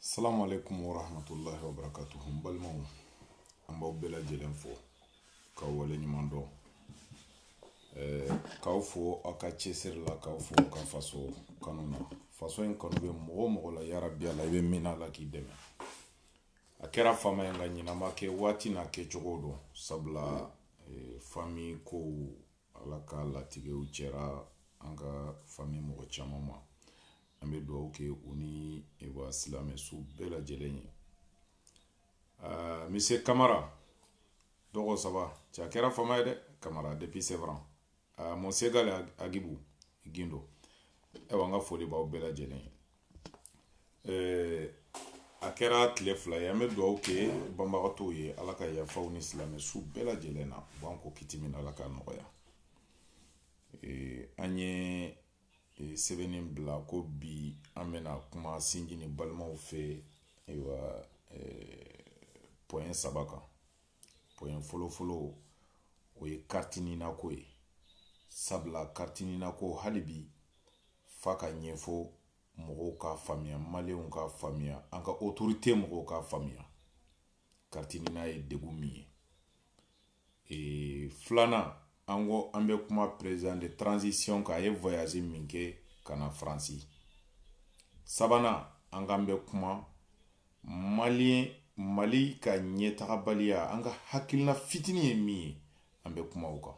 salamu aleykum wa rahmatulahi wa barakatuhu n balimaw an b'aw bɛɛ lajɛlen fo k'aw wale ɲuman dɔn eh, k'aw fo aw ka cɛsiri la k'aw fo ka faso kanu na faso in kanu bɛ mɔgɔ o mɔgɔ la yarabi ala i bɛ min na ala k'i dɛmɛ a kɛra fama ye nka ɲinan ma kɛ waati n'a kɛcogo don sabula eh, fami kow ala ka latigɛw sera an ka fami mɔgɔ caman ma an bɛ dugawu kɛ u ni wa silamɛ su bɛɛ lajɛlen ye ah, mise kamara dɔgɔ saba cɛ a kɛra fama ye dɛ kamara depuis Sevran ah, mon segal agibu gindo ɛwa an ka foli b'aw bɛɛ lajɛlen ye eh, a kɛra tile fila ye an bɛ dugawu kɛ banabagatɔw ye ala ka yafa u ni silamɛ su bɛɛ lajɛlen na u b'an ko kiti min ala ka nɔgɔya eh, an ye e, sɛbɛnni bila ko bi an bɛna kuma sinji ni balimaw fɛ ayiwa e, pɔyɛn saba kan pɔyɛn fɔlɔfɔlɔ o ye kariti nina ko ye sabula kariti nina ko hali bi f'a ka ɲɛfɔ mɔgɔw k'a faamuya maliyɛnw k'a faamuya an ka otorite mɔgɔw k'a faamuya kariti nina ye degun min ye ee filanan an ko an bɛ kuma president de transition kan a ye voyage min kɛ ka na faransi sabanan an k'an bɛ kuma maliyɛn mali ka ɲɛtagabaliya an ka hakilina fitinin ye min ye an bɛ kuma o kan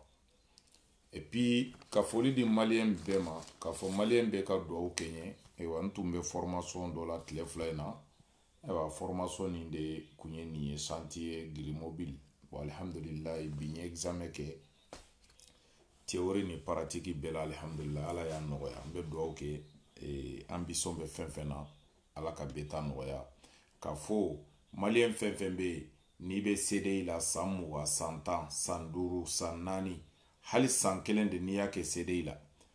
epi ka foli di maliyɛn bɛɛ ma k'a fɔ maliyɛn bɛɛ ka dugawu kɛ n ye ayiwa n tun bɛ fɔrmasɔn dɔ la tile fila in na ayiwa formation nin de kun ye nin ye chantier grue mobile bon alihamdulilayi bi n ye examen kɛ théorie ni paratiki bɛɛ la alihamdulilayi ala y'a nɔgɔya n bɛ dugawu kɛ eh, an bɛ fɛn fɛn na ala ka bɛɛ ta nɔgɔya k'a fɔ maliyɛn fɛn fɛn bɛ yen n'i bɛ CDI la san mugan san tan san duuru san naani hali san kelen de n'i y'a kɛ CDI la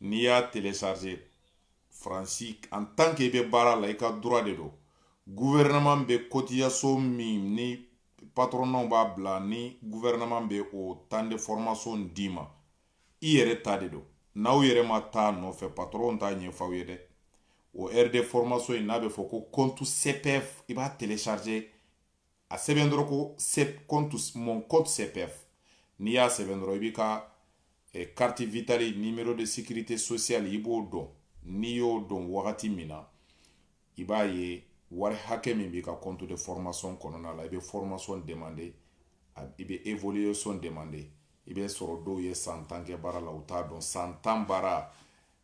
n'i y'a télécharger faransi en tant que i bɛ baara la i ka droit de don gouvernement bɛ cotisation min ni patronnaw b'a bila ni gouvernement bɛ o temps de formation d'i ma i yɛrɛ ta de don n'aw yɛrɛ ma taa a nɔfɛ patron t'a ɲɛfɔ aw ye dɛ o heure de formation in n'a bɛ fɔ ko compte CPF i b'a télécharger a sɛbɛn dɔrɔn ko compte mon compte CPF n'i y'a sɛbɛn dɔrɔn i b'i ka eh, carte vitale numéro de sécurité sociale i b'o don n'i y'o don wagati min na i b'a ye wari hakɛ min b'i ka compte de formation kɔnɔna la i bɛ formation demander i bɛ évolution demander i b'a sɔrɔ dɔw ye san tan kɛ baara la u t'a dɔn san tan baara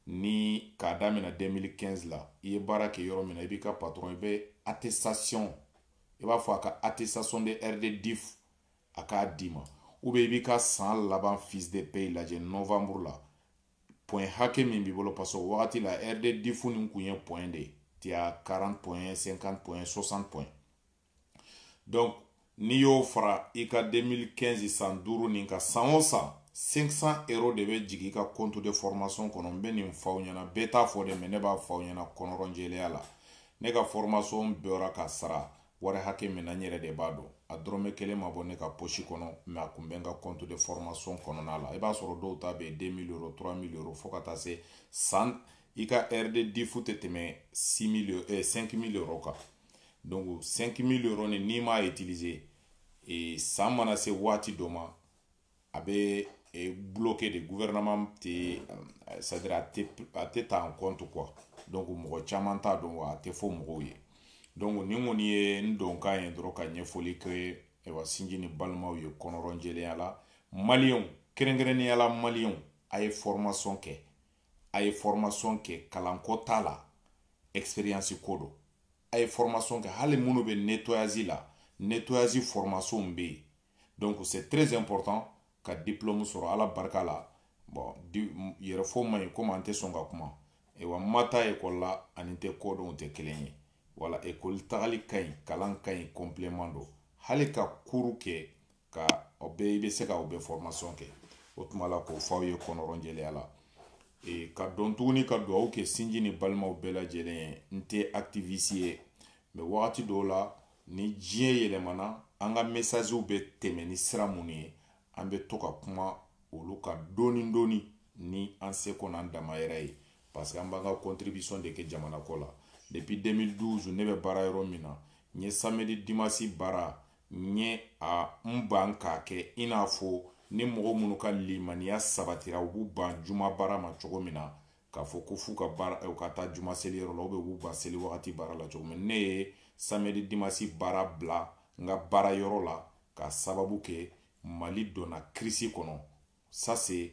ni k'a daminɛ 2015 la i ye baara kɛ yɔrɔ min na i b'i ka patron i bɛ attestation i b'a fɔ a ka attestation de heures de DIF a k'a d'i ma ou bien i b'i ka san laban fiche de paye lajɛ novembre la point hakɛ min b'i bolo parce que o wagati la heures de DIF nin kun ye point de ye tu as 40 point 50 point 60 point donc n'i y'o fara i ka 2015 san duuru nin ka san o san 500 euro de bɛ jigin i ka compte de formation kɔnɔ n bɛ nin f'aw ɲɛna bɛɛ t'a fɔ dɛ mais ne b'a f'aw ɲɛna kɔnɔrɔnjɛlenya la ne ka formation bɔra ka sara wari hakɛ min na n yɛrɛ de b'a dɔn a dɔrɔmɛ kelen ma bɔ ne ka posi kɔnɔ mais a kun bɛ n ka compte de formation kɔnɔna la i b'a sɔrɔ dɔw ta bɛ yen 2000 euro 3000 euro fo ka taa se san i ka heures de DIF tɛ tɛmɛ 6000 eh, 5000 euro kan donc 5000 euro ni n'i m'a utiliser e, san mana se waati dɔ ma a bɛ e, bloqué de gouvernement tɛ c'est à dire a tɛ a tɛ ta en compte quoi donc mɔgɔ caman t'a dɔn wa a tɛ fɔ mɔgɔw ye donc nin kɔni ye n donkan ye dɔrɔn ka ɲɛfɔli kɛ ayiwa sinji ni balimaw ye kɔnɔrɔnjɛlenya la maliyɛnw kɛrɛnkɛrɛnnenya la maliyɛnw a ye formation kɛ a ye formation kɛ kalanko t'a la expérience ko don a ye formation kɛ hali minnu bɛ nettoyage la nettoyage formation bɛ yen donc c'est très important ka diplôme sɔrɔ ala barika la bon yɛrɛ fɔ man ɲi komi an tɛ sɔn ka kuma wa n ma taa ekɔli la ani n tɛ ko dɔn tɛ kelen ye voilà ekɔli tagali ka ɲi kalan ka ɲi complément don hali ka cours kɛ ka o bɛɛ i bɛ se ka o bɛɛ kɛ o tuma la k'o fɔ aw ye kɔnɔrɔnjɛya la ka dɔn tuguni ka dugawu kɛ sinji ni balimaw bɛɛ lajɛlen ye n tɛ activiste ye mais wagati dɔw la ni diɲɛ yɛlɛmana an ka mɛsasiw bɛ tɛmɛ ni sira minnu ye an bɛ to ka kuma olu kan dɔɔni dɔɔni ni an se kɔnɔ an dama yɛrɛ ye parce que an b'an ka contribution de kɛ jamana ko la depuis 2012 ne bɛ baara yɔrɔ min na n ye samedi dimanche baara n ye a n ban k'a kɛ i n'a fɔ ni mɔgɔ minnu ka limaniya sabatira u b'u ban juma baara ma cogo min na k'a fɔ ko f'u ka taa juma seli yɔrɔ la u bɛ k'u ban seli wagati baara la cogo min na ne ye samedi dimasi baara bila n ka baara yɔrɔ la k'a sababu kɛ mali donna kirisi kɔnɔ ça c'est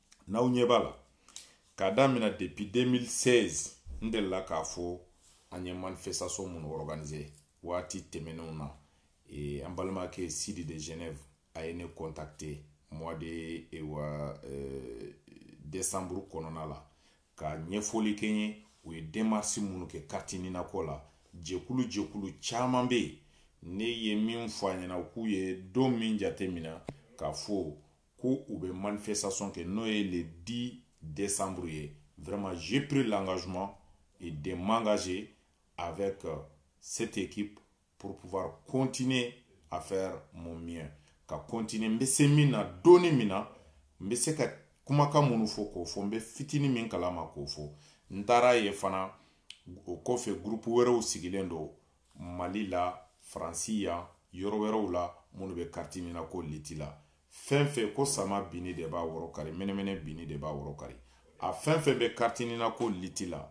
n'aw ɲɛ b'a la k'a daminɛ depuis 2016 n delila k'a fɔ an ye manifestation minnu organiser waati tɛmɛnenw na eh, an balimakɛ sidi de genève a ye ne contacter mois de eh, wa eh, décembre kɔnɔna la ka ɲɛfɔli kɛ n ye u ye demarsi minnu kɛ carte NINA ko la jɛkulu jɛkulu caman bɛ yen ne ye min fɔ a ɲɛna u k'u ye don min jateminɛ k'a fɔ ko u bɛ manifestation kɛ n'o ye le 10 décembre ye vraiment j'ai pris l'engagement et de m'engager avec euh, cette équipe pour pouvoir continuer à faire mon mieux ka continuer n bɛ se min na dɔɔnin min na n bɛ se ka kumakan minnu fɔ k'o fɔ n bɛ fitinin min kalama k'o fɔ n taara ye fana o kɔfɛ groupe wɛrɛw sigilen don mali la faransi yan yɔrɔ wɛrɛw la minnu bɛ kariti nina ko liti la fɛn fɛn ko sama binni de b'a woro kari mɛnɛmɛnɛ binni de b'a woro kari a fɛn fɛn bɛ kariti nina ko liti la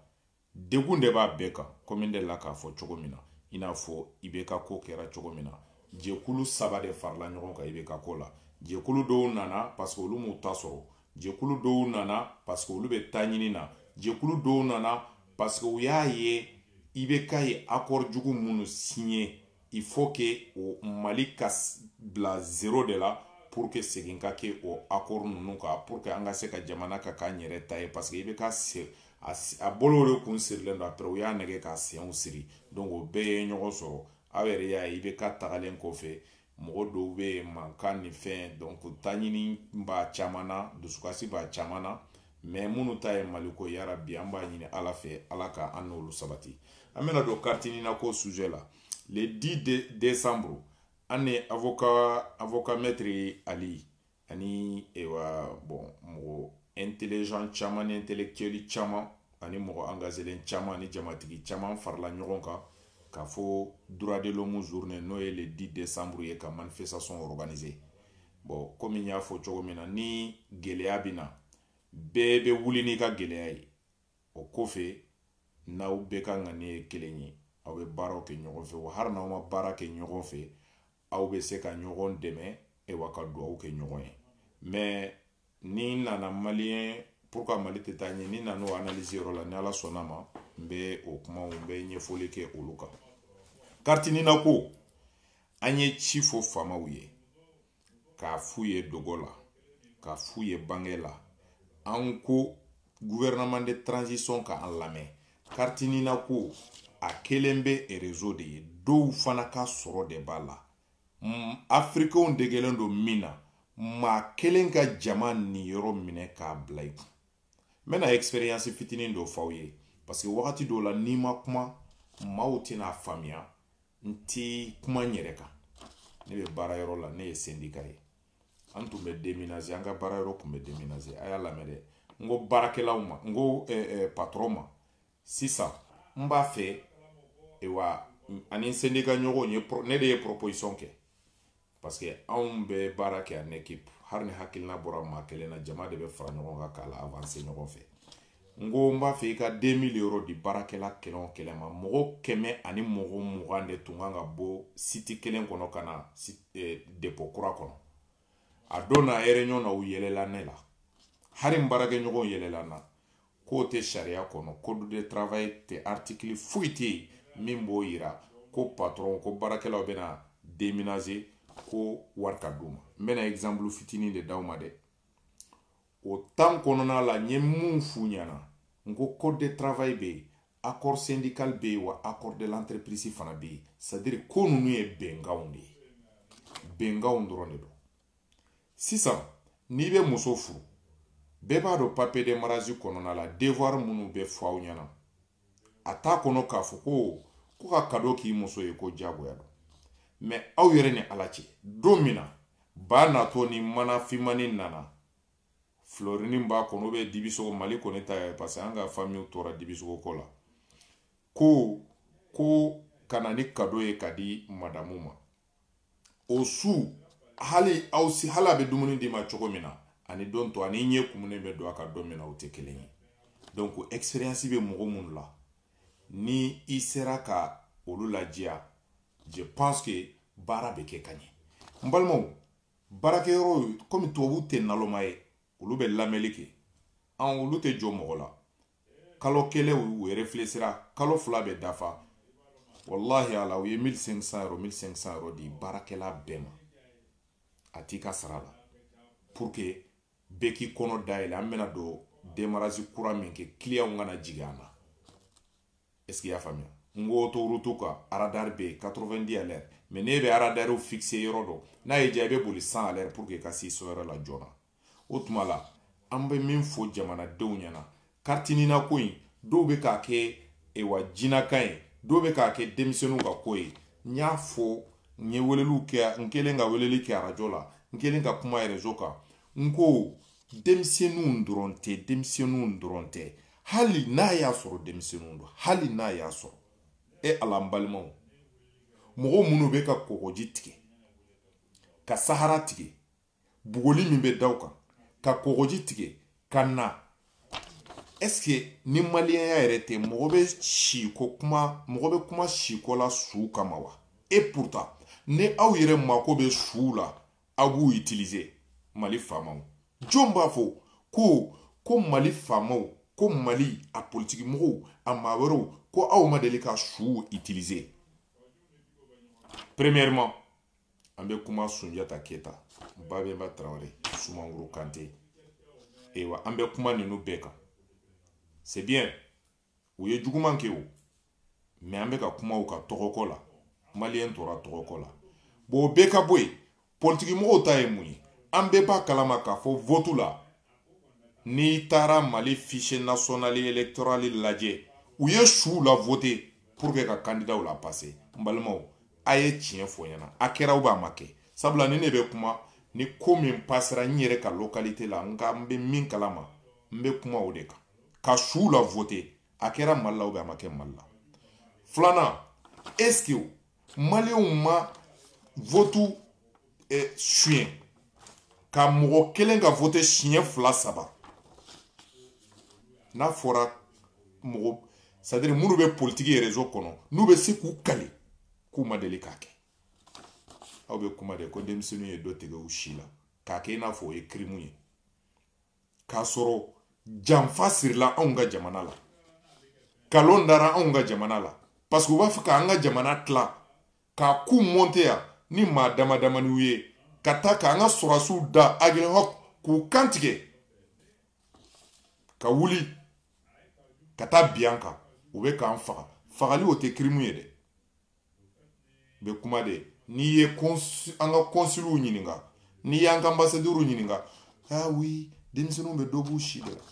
degun de b'a bɛɛ kan komi n delila k'a fɔ cogo min na i n'a fɔ ibk ko kɛra cogo min na jɛkulu saba de farala ɲɔgɔn kan ibk ko la jɛkulu dɔw nana parce que olu m'u ta sɔrɔ jɛkulu dɔw nana parce que olu bɛ ta ɲini na jɛkulu dɔw nana parce que u y'a ye ibk ye accord jugu minnu signé il faut que o mali ka bila zero de la pour que segin ka kɛ o accord ninnu kan pour que an ka se ka jamana ka k'an yɛrɛ ta ye parce que ibk c'est a bolo de kun sirilen don après u y'a nɛgɛn k'a senw siri donc o bɛɛ ye ɲɔgɔn sɔrɔ aw yɛrɛ y'a ye ibk tagalen kɔfɛ mɔgɔ dɔw bɛ yen mankan ni fɛn donc taɲini b'a caman na dusukasi b'a caman na mɛ minnu ta ye maliko yarabi an b'a ɲini ala fɛ ala ka an n'olu sabati an bɛna don kariti nina ko sujɛ la le 10 de décembre an ni avocat avocat maître ali ani ewa bɔn mɔgɔ intelligent caman ni intellectuel caman ani mɔgɔ engagelen caman ani jamatigi caman farala ɲɔgɔn kan ka fɔ droit de l'homme journée n'o ye le 10 décembre ye ka manifestation organiser bɔn komi n y'a fɔ cogo min na ni gɛlɛya bɛ na bɛɛ bɛ wuli n'i ka gɛlɛya ye o kɔfɛ n'aw bɛɛ ka ŋaniya ye kelen ye aw bɛ baaraw kɛ ɲɔgɔn fɛ wa hali n'aw ma baara kɛ ɲɔgɔn fɛ aw bɛ se ka ɲɔgɔn dɛmɛ e wa ka dugawu kɛ ɲɔgɔn ye mɛ ni n nana maliyɛn pourquoi mali tɛ taa ɲɛ ni n nana o analyse yɔrɔ la ni ala sɔnna ma n bɛ o kumaw n bɛ ɲɛfɔli kɛ olu kan kariti nina ko an ye ci fɔ faamaw ye k'a f'u ye dogo la k'a f'u ye bange la an ko gouvernement de transition ka an lamɛn kariti nina ko a kɛlen bɛ erezo de ye dɔw fana ka sɔrɔ de b'a la afirikenw degelen don min na maa kelen ka jama niyɔrɔ minɛ k'a bila i kun n bɛna expérience fitinin dɔ f'aw ye parce que wagati dɔw la n'i ma kuma maaw tɛna faamuya n ti kuma n yɛrɛ kan ne bɛ baara yɔrɔ la ne ye sendika ye an tun bɛ deminase an ka baara yɔrɔ tun bɛ deminase a y'a lamɛn dɛ n ko baarakɛlaw ma n ko patɔrɔn ma sisan n b'a fɛ wa ani n sendika ɲɔgɔn ye ne de ye proposition kɛ parce que anw bɛ baara kɛ en équipe hali ni hakilina bɔra maa kelen na jama de bɛ fara ɲɔgɔn kan k'a la awanse ɲɔgɔn fɛ n ko n b'a fɛ i ka deux mille euros di baarakɛla kelen o kelen ma mɔgɔ kɛmɛ ani mɔgɔ mugan de tun kan ka bɔ siti kelen kɔnɔ ka na eh, depo kura kɔnɔ a don na réunion na u yɛlɛla ne la hali n baarakɛɲɔgɔnw yɛlɛla n na k'o tɛ sariya kɔnɔ code de travail tɛ artikili foyi tɛ yen min b'o yira ko patɔrɔn ko baarakɛlaw bɛna deminase ko wari ka d'u ma n bɛna egizanpulu fitinin de d'aw ma dɛ o temps kɔnɔna la n ye mun f'u ɲɛna n ko code de travail bɛ yen accord syndical bɛ yen wa accord de l'entreprise fana bɛ yen c'est à dire ko ninnu ye bɛnkanw de ye bɛnkanw dɔrɔn de don sisan n'i bɛ muso furu bɛɛ b'a dɔn papier de mariage kɔnɔna la devoir minnu bɛ fɔ aw ɲɛna a t'a kɔnɔ k'a fɔ ko ko ka kado k'i muso ye ko diyagoya don mais aw yɛrɛ ni ala cɛ don min na ba natɔ ni mana fimani nana filɔrini b'a kɔnɔ ou bien dibisogo mali kɔni ta ye parce que an ka famiw tora dibisogo kɔ la ko ko ka na ni kado ye ka di madamu ma o su hali o su hali a bɛ dumuni d'i ma cogo min na ani don tɔ ani i ɲɛ kumunen bɛ don a kan don min na o tɛ kelen ye donc experience bɛ mɔgɔ minnu la ni i sera ka olu lajɛya je pense que baara bɛ kɛ ka ɲɛ n balimaw baarakɛyɔrɔ komi tubabuw tɛ naloma ye olu bɛ lamɛnli kɛ an olu tɛ jɔn mɔgɔ la kalo kelen u refilesira kalo fila bɛ dafa walahi ala u ye 1500 euros 1500 euros di baarakɛla bɛɛ ma a t'i ka sara la pour que bɛɛ k'i kɔnɔ dayɛlɛ an bɛna don demarasi kura min kɛ kiliyanw kana jigin an na est ce que y'a faamuya n ko autoroute kan aradari bɛ yen 90 à l'heure mais n'e bɛ aradariw fixe yɔrɔ dɔn n'a y'i diya i bɛ boli 100 à l'heure pour que i ka se so yɔrɔ la joona o tuma la an bɛ min fɔ jamanadenw ɲɛna carte nina ko in dɔw bɛ k'a kɛ ewa jinaka ye dɔw bɛ k'a kɛ denmisɛnninw ka ko ye n y'a fɔ n ye weleliw kɛ n kelen ka weleli kɛ arajo la n kelen ka kuma réseau kan n ko denmisɛnninw dɔrɔn tɛ denmisɛnninw dɔrɔn tɛ hali n'a y'a sɔrɔ denmisɛnninw don hali n'a y'a sɔrɔ e ala n balimaw mɔgɔ minnu bɛ ka kɔgɔji tigɛ ka sahara tigɛ bugɔli min bɛ da u kan ka kɔgɔji tigɛ ka na ɛseke ni maliyɛnya yɛrɛ tɛ mɔgɔ bɛ si ko kuma mɔgɔ bɛ kuma si ko la su kama wa et pourtant ni aw yɛrɛ mako bɛ suw la aw b'u itilize mali faamaw jɔn b'a fɔ ko ko mali faamaw ko mali a politiki mɔgɔw a maa wɛrɛw ko aw ma deli ka suw itilize premièrement an bɛ kuma sunjata keta babɛnba tarawele sumaworo kante ayiwa an bɛ kuma ninnu bɛɛ kan c'est bien u ye juguman kɛ o mais an bɛ ka kuma u ka tɔgɔko la maliyɛn tora tɔgɔko la bon o bɛɛ ka bɔ yen politikimɔgɔw ta ye mun ye an bɛɛ b'a kalama k'a fɔ votu la n'i taara mali fichier national électoral lajɛ u ye suw la voter pour que ka candidat la passer n balimaw a ye tiɲɛ fɔ n ɲɛna a kɛra ou a ma kɛ sabula ni ne bɛ kuma ni ko min pasera n yɛrɛ ka localité la n ka n bɛ min kalama n bɛ kuma o de kan ka suw la voter a kɛra mali la ou a ma kɛ mali la filanan est ce que maliyɛnw ma votu eh, suɲɛ ka mɔgɔ kelen ka vote siɲɛ fila saba n'a fɔra mɔgɔ c'est à dire minnu bɛ politiki ye réseau kɔnɔ n'u bɛ se k'u kali k'u ma deli k'a kɛ aw bɛ kuma de ko denmisɛnninw ye dɔ tigɛ u si la k'a kɛ i n'a fɔ o ye kirimu ye k'a sɔrɔ janfa sirila anw ka jamana la kalon dara anw ka jamana la parce que u b'a fɛ k'an ka jamana tila ka coup monter yan ni maa dama damaniw ye ka taa k'an ka sɔrɔdasiw da aguelhok k'u kantigɛ ka wuli ka taa bin an kan u bɛ k'an faga fagali o tɛ kirimu ye dɛ bɛ kuma de n'i ye an ka consul ɲininka n'i y'an ka ambassadeur ɲininka ah oui denmisɛnninw bɛ dɔ b'u si de la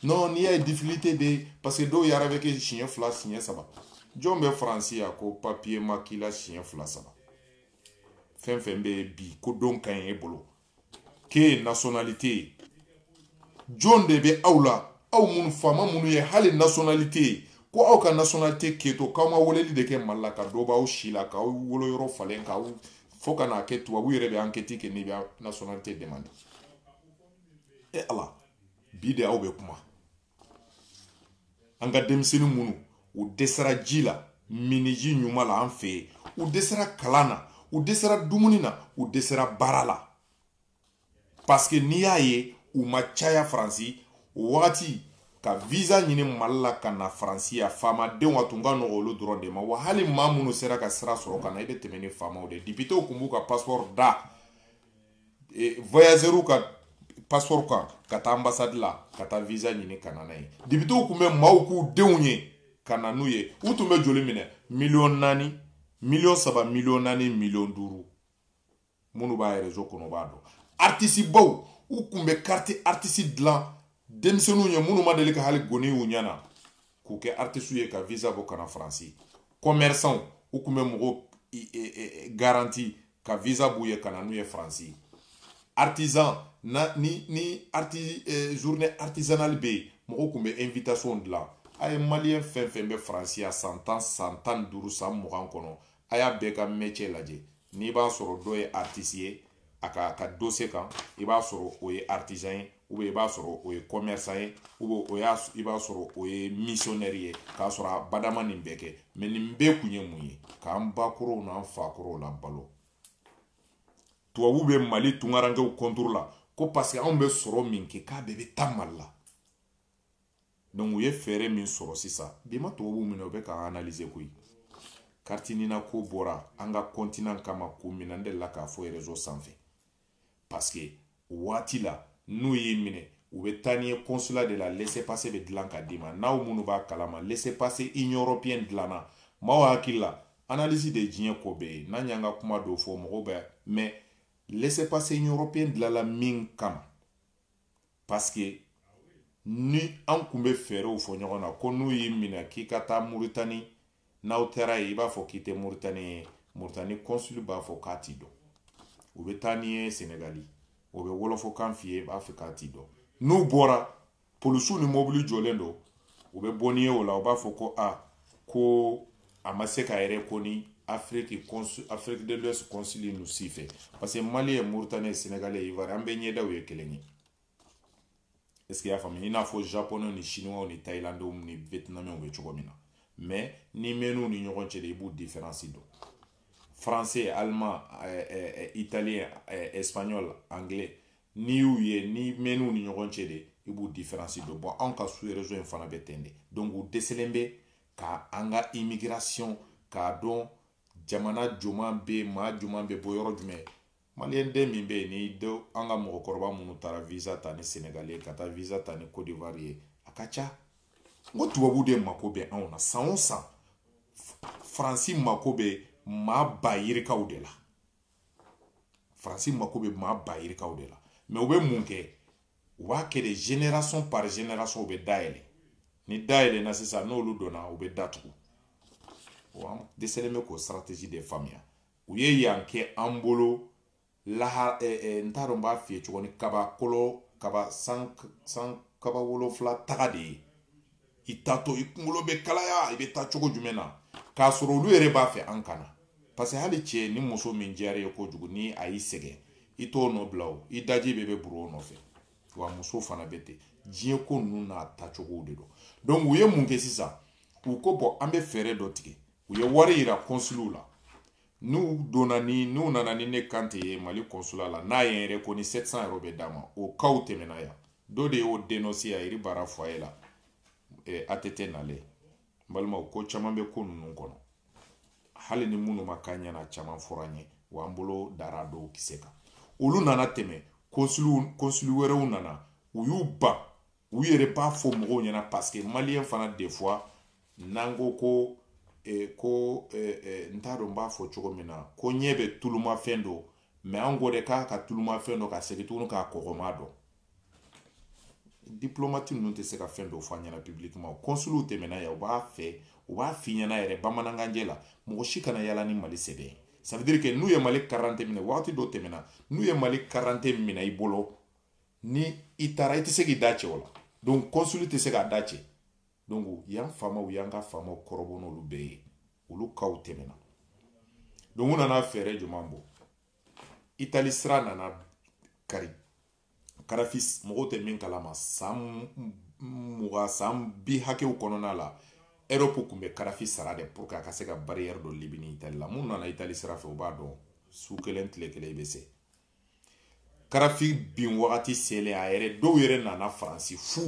non n'i y'a ye difficulté bɛ yen parce que dɔw yɛrɛ b'a kɛ siɲɛ fila siɲɛ saba jɔn bɛ faransi yan ko papiye ma k'i la siɲɛ fila saba fɛn fɛn bɛ yen bi ko don ka ɲi e bolo k'e nasonalite ye jɔn de bɛ aw la aw minnu faama minnu ye hali nasonalite ye ko aw ka nasonalite kɛtɔ k'aw ma weleli de kɛ mali la ka dɔ b'aw si la k'aw wolo yɔrɔ falen k'aw fo ka n'a kɛ tubabu yɛrɛ bɛ ankɛti kɛ n'i bɛ nasonalite demande e ala bi de aw bɛ kuma an ka denmisɛnnin minnu u dɛsɛra ji la minniji ɲuman la an fɛ yen u dɛsɛra kalan na u dɛsɛra dumuni na u dɛsɛra baara la paske n'i y'a ye u ma caya faransi o wagati ka visa ɲini mali la ka na faransi yan faamadenw a tun ka nɔgɔ olu dɔrɔn de ma wa hali maa minnu sera ka sira sɔrɔ ka na i bɛ tɛmɛ ni faamaw de ye depitew tun b'u ka pasipɔri da voyageurs ka passeport kan ka taa ambassade la ka taa visa ɲini ka na n'a ye depitew tun bɛ maaw k'u denw ye ka na n'u ye u tun bɛ joli minɛ miliyɔn naani miliyɔn saba miliyɔn naani miliyɔn duuru minnu b'a rezo kɔnɔ u b'a dɔn artisibaw u tun bɛ kariti artisi dilan denmisɛnninw ye minnu ma deli ka hali goni y'u ɲɛ na k'u kɛ artisiw ye ka visa bɔ ka na faransi commerçant u tun bɛ mɔgɔw e, e, e, garanti ka visa b'u ye ka na n'u ye faransi artisan na ni ni arti eh, journée artisanale bɛ yen mɔgɔw tun bɛ invitation dilan a ye maliyɛn fɛn fɛn bɛ faransi yan san tan san tan ni duuru san mugan kɔnɔ a y'a bɛɛ ka mɛcɛ lajɛ n'i b'a sɔrɔ dɔ ye artiste ye a ka ka dossier kan i b'a sɔrɔ o ye artisan ye ubiyɛn i b'a sɔrɔ o ye commerçant ye ubiyɛn o y'a i b'a sɔrɔ o ye missionnaire ye k'a sɔrɔ abada a ma nin bɛɛ kɛ mais nin bɛɛ kun ye mun ye k'an bakɔrɔw n'an fakɔrɔw labalo tubabuw bɛ mali tungarankew contre la ko parce que anw bɛ sɔrɔ min kɛ k'a bɛɛ bɛ taa mali la donc u ye fɛɛrɛ min sɔrɔ sisan bi ma tubabuw minɛ u bɛ k'an analyse koyi karitinina ko bɔra an ka kɔntinan kama komi ne n delila k'a fɔ rezo sanfɛ parce que waati la n'u y'i minɛ u bɛ taa n'i ye consulat de la laisser passer bɛ dilan ka d'i ma n'aw minnu b'a kalama laisser passer union européenne dilanna maaw hakili la analyse de ye diɲɛ ko bɛɛ ye n'an y'an ka kuma dɔw fɔ mɔgɔw bɛ mais laisser passer union européenne dilanla min kama parce que ni an kun bɛ fɛɛrɛw fɔ ɲɔgɔn na ko n'u y'i minɛ k'i ka taa muritani n'aw taara yen i b'a fɔ k'i tɛ muritani ye muritani kɔnsuli b'a fɔ k'a t'i dɔn u bɛ taa n'i ye senegali o bɛ wɔlɔfɔkan f'i ye i b'a fɔ k'a t'i dɔn n'u bɔra polisiw ni mɔbili jɔlen don u bɛ bɔ n'i ye o la u b'a fɔ ko a ko a ma se ka reconnu afiriki afiriki de l'ouest kɔnsili ninnu si fɛ parce que mali ye moritani ye senegali ye ivoire an bɛɛ ɲɛdaw ye kelen ye est ce que i y'a faamuya i n'a fɔ japonɛw ni chinois ni thailandew ni vietnamiens bɛ cogo min na mais n'i mɛn'u ni ɲɔgɔn cɛ de i b'u différence dɔn français allemand eh, eh, eh, italien eh, espagnol anglais n'i y'u ye n'i mɛn'u ni ɲɔgɔn cɛ de i b'u diferansi dɔn bon anw ka sous région fana bɛ ten de donc u dɛsɛlen bɛ ka an ka immigration k'a dɔn jamana jumɛn bɛ yen maa jumɛn bɛ bɔ yɔrɔ jumɛn maliyɛn den min bɛ yen ni dɔ an ka mɔgɔkɔrɔba minnu taara visa ta ni senegali ye ka taa visa ta ni cote d'ivoire ye a ka ca n ko tubabu de mako bɛ anw na san o san faransi mako bɛ maa ba yirikaw de la faransi mako bɛ maa ba yirikaw de la mɛ u bɛ mun kɛ u b'a kɛ de génération par génération u bɛ da yɛlɛ ni da yɛlɛna sisan n'olu donna u bɛ da tugu an dɛsɛlen bɛ k'o stratégie de faamuya u ye yan kɛ an bolo laha ɛ eh, ɛ eh, n t'a dɔn n b'a f'i ye cogo di kabakolo kaba san san kaba wolonfila taga de ye i taatɔ i kunkolo bɛ kalaya i bɛ taa cogo jumɛn na k'a sɔrɔ olu yɛrɛ b'a fɛ an kana parce que hali cɛ ni muso min diyara i ye kojugu ni a y'i sɛgɛn i t'o nɔ bila o i daji bɛ bɛ burun o nɔfɛ wa muso fana bɛ ten diɲɛ ko ninnu n'a taacogow de don donc u ye mun kɛ sisan u ko bon an bɛ fɛɛrɛ dɔ tigɛ u ye wari yira kɔnsuliw la n'u donna ni n'u nana ni ne karante ye mali kɔnsula la n'a y'i reconnu 700 euro bɛ d'a ma o kaw tɛmɛna yan dɔ de y'o dénoncer a yɛrɛ baara foyer la eh, att nalen n balimaw ko caman bɛ ko ninnu kɔnɔ hali ni minnu ma k'an ɲɛna caman fɔra n ye wa an bolo dara dɔw kisɛ kan olu nana tɛmɛ kɔnsuli kɔnsuli wɛrɛw nana u y'u ban u yɛrɛ b'a fɔ mɔgɔw ɲɛna parce que maliyɛn fana de fois n'an ko ko e, ko e, e, n t'a dɔn n b'a fɔ cogo min na ko ɲɛ bɛ tulumafɛn dɔn mɛ an ko de k'an ka tulumafɛn dɔn ka segin tuguni k'a kɔgɔma dɔn diplomati ninnu tɛ se ka fɛn dɔ fɔ an ɲɛna publiquement o kɔnsuliw tɛmɛna yan u b'a fɛ u b'a f'i ɲɛna yɛrɛ bamanankanjɛ la mɔgɔ si kana yala ni mali sɛbɛn ye ça veut dire que n'u ye mali karante minɛ wagati dɔ tɛmɛna n'u ye mali karante minɛ i bolo ni i taara i tɛ se k'i da cɛ o la donc kɔnsuli tɛ se k'a da cɛ donc yan faamaw y'an ka faamaw kɔrɔbɔ n'olu bɛɛ ye olu kaw tɛmɛna donc u nana fɛɛrɛ jumɛn bɔ itali sira nana kari kadafi mɔgɔw tɛ min kalama san mugan san bi hakɛw kɔnɔna la ɛrɔpu tun bɛ kadafi sara de pour que a ka se ka bariyɛri don libi ni itali la minnu nana itali sira fɛ u b'a dɔn su kelen tile kelen i bɛ se kadafi bin wagati selen a yɛrɛ dɔw yɛrɛ nana faransi fu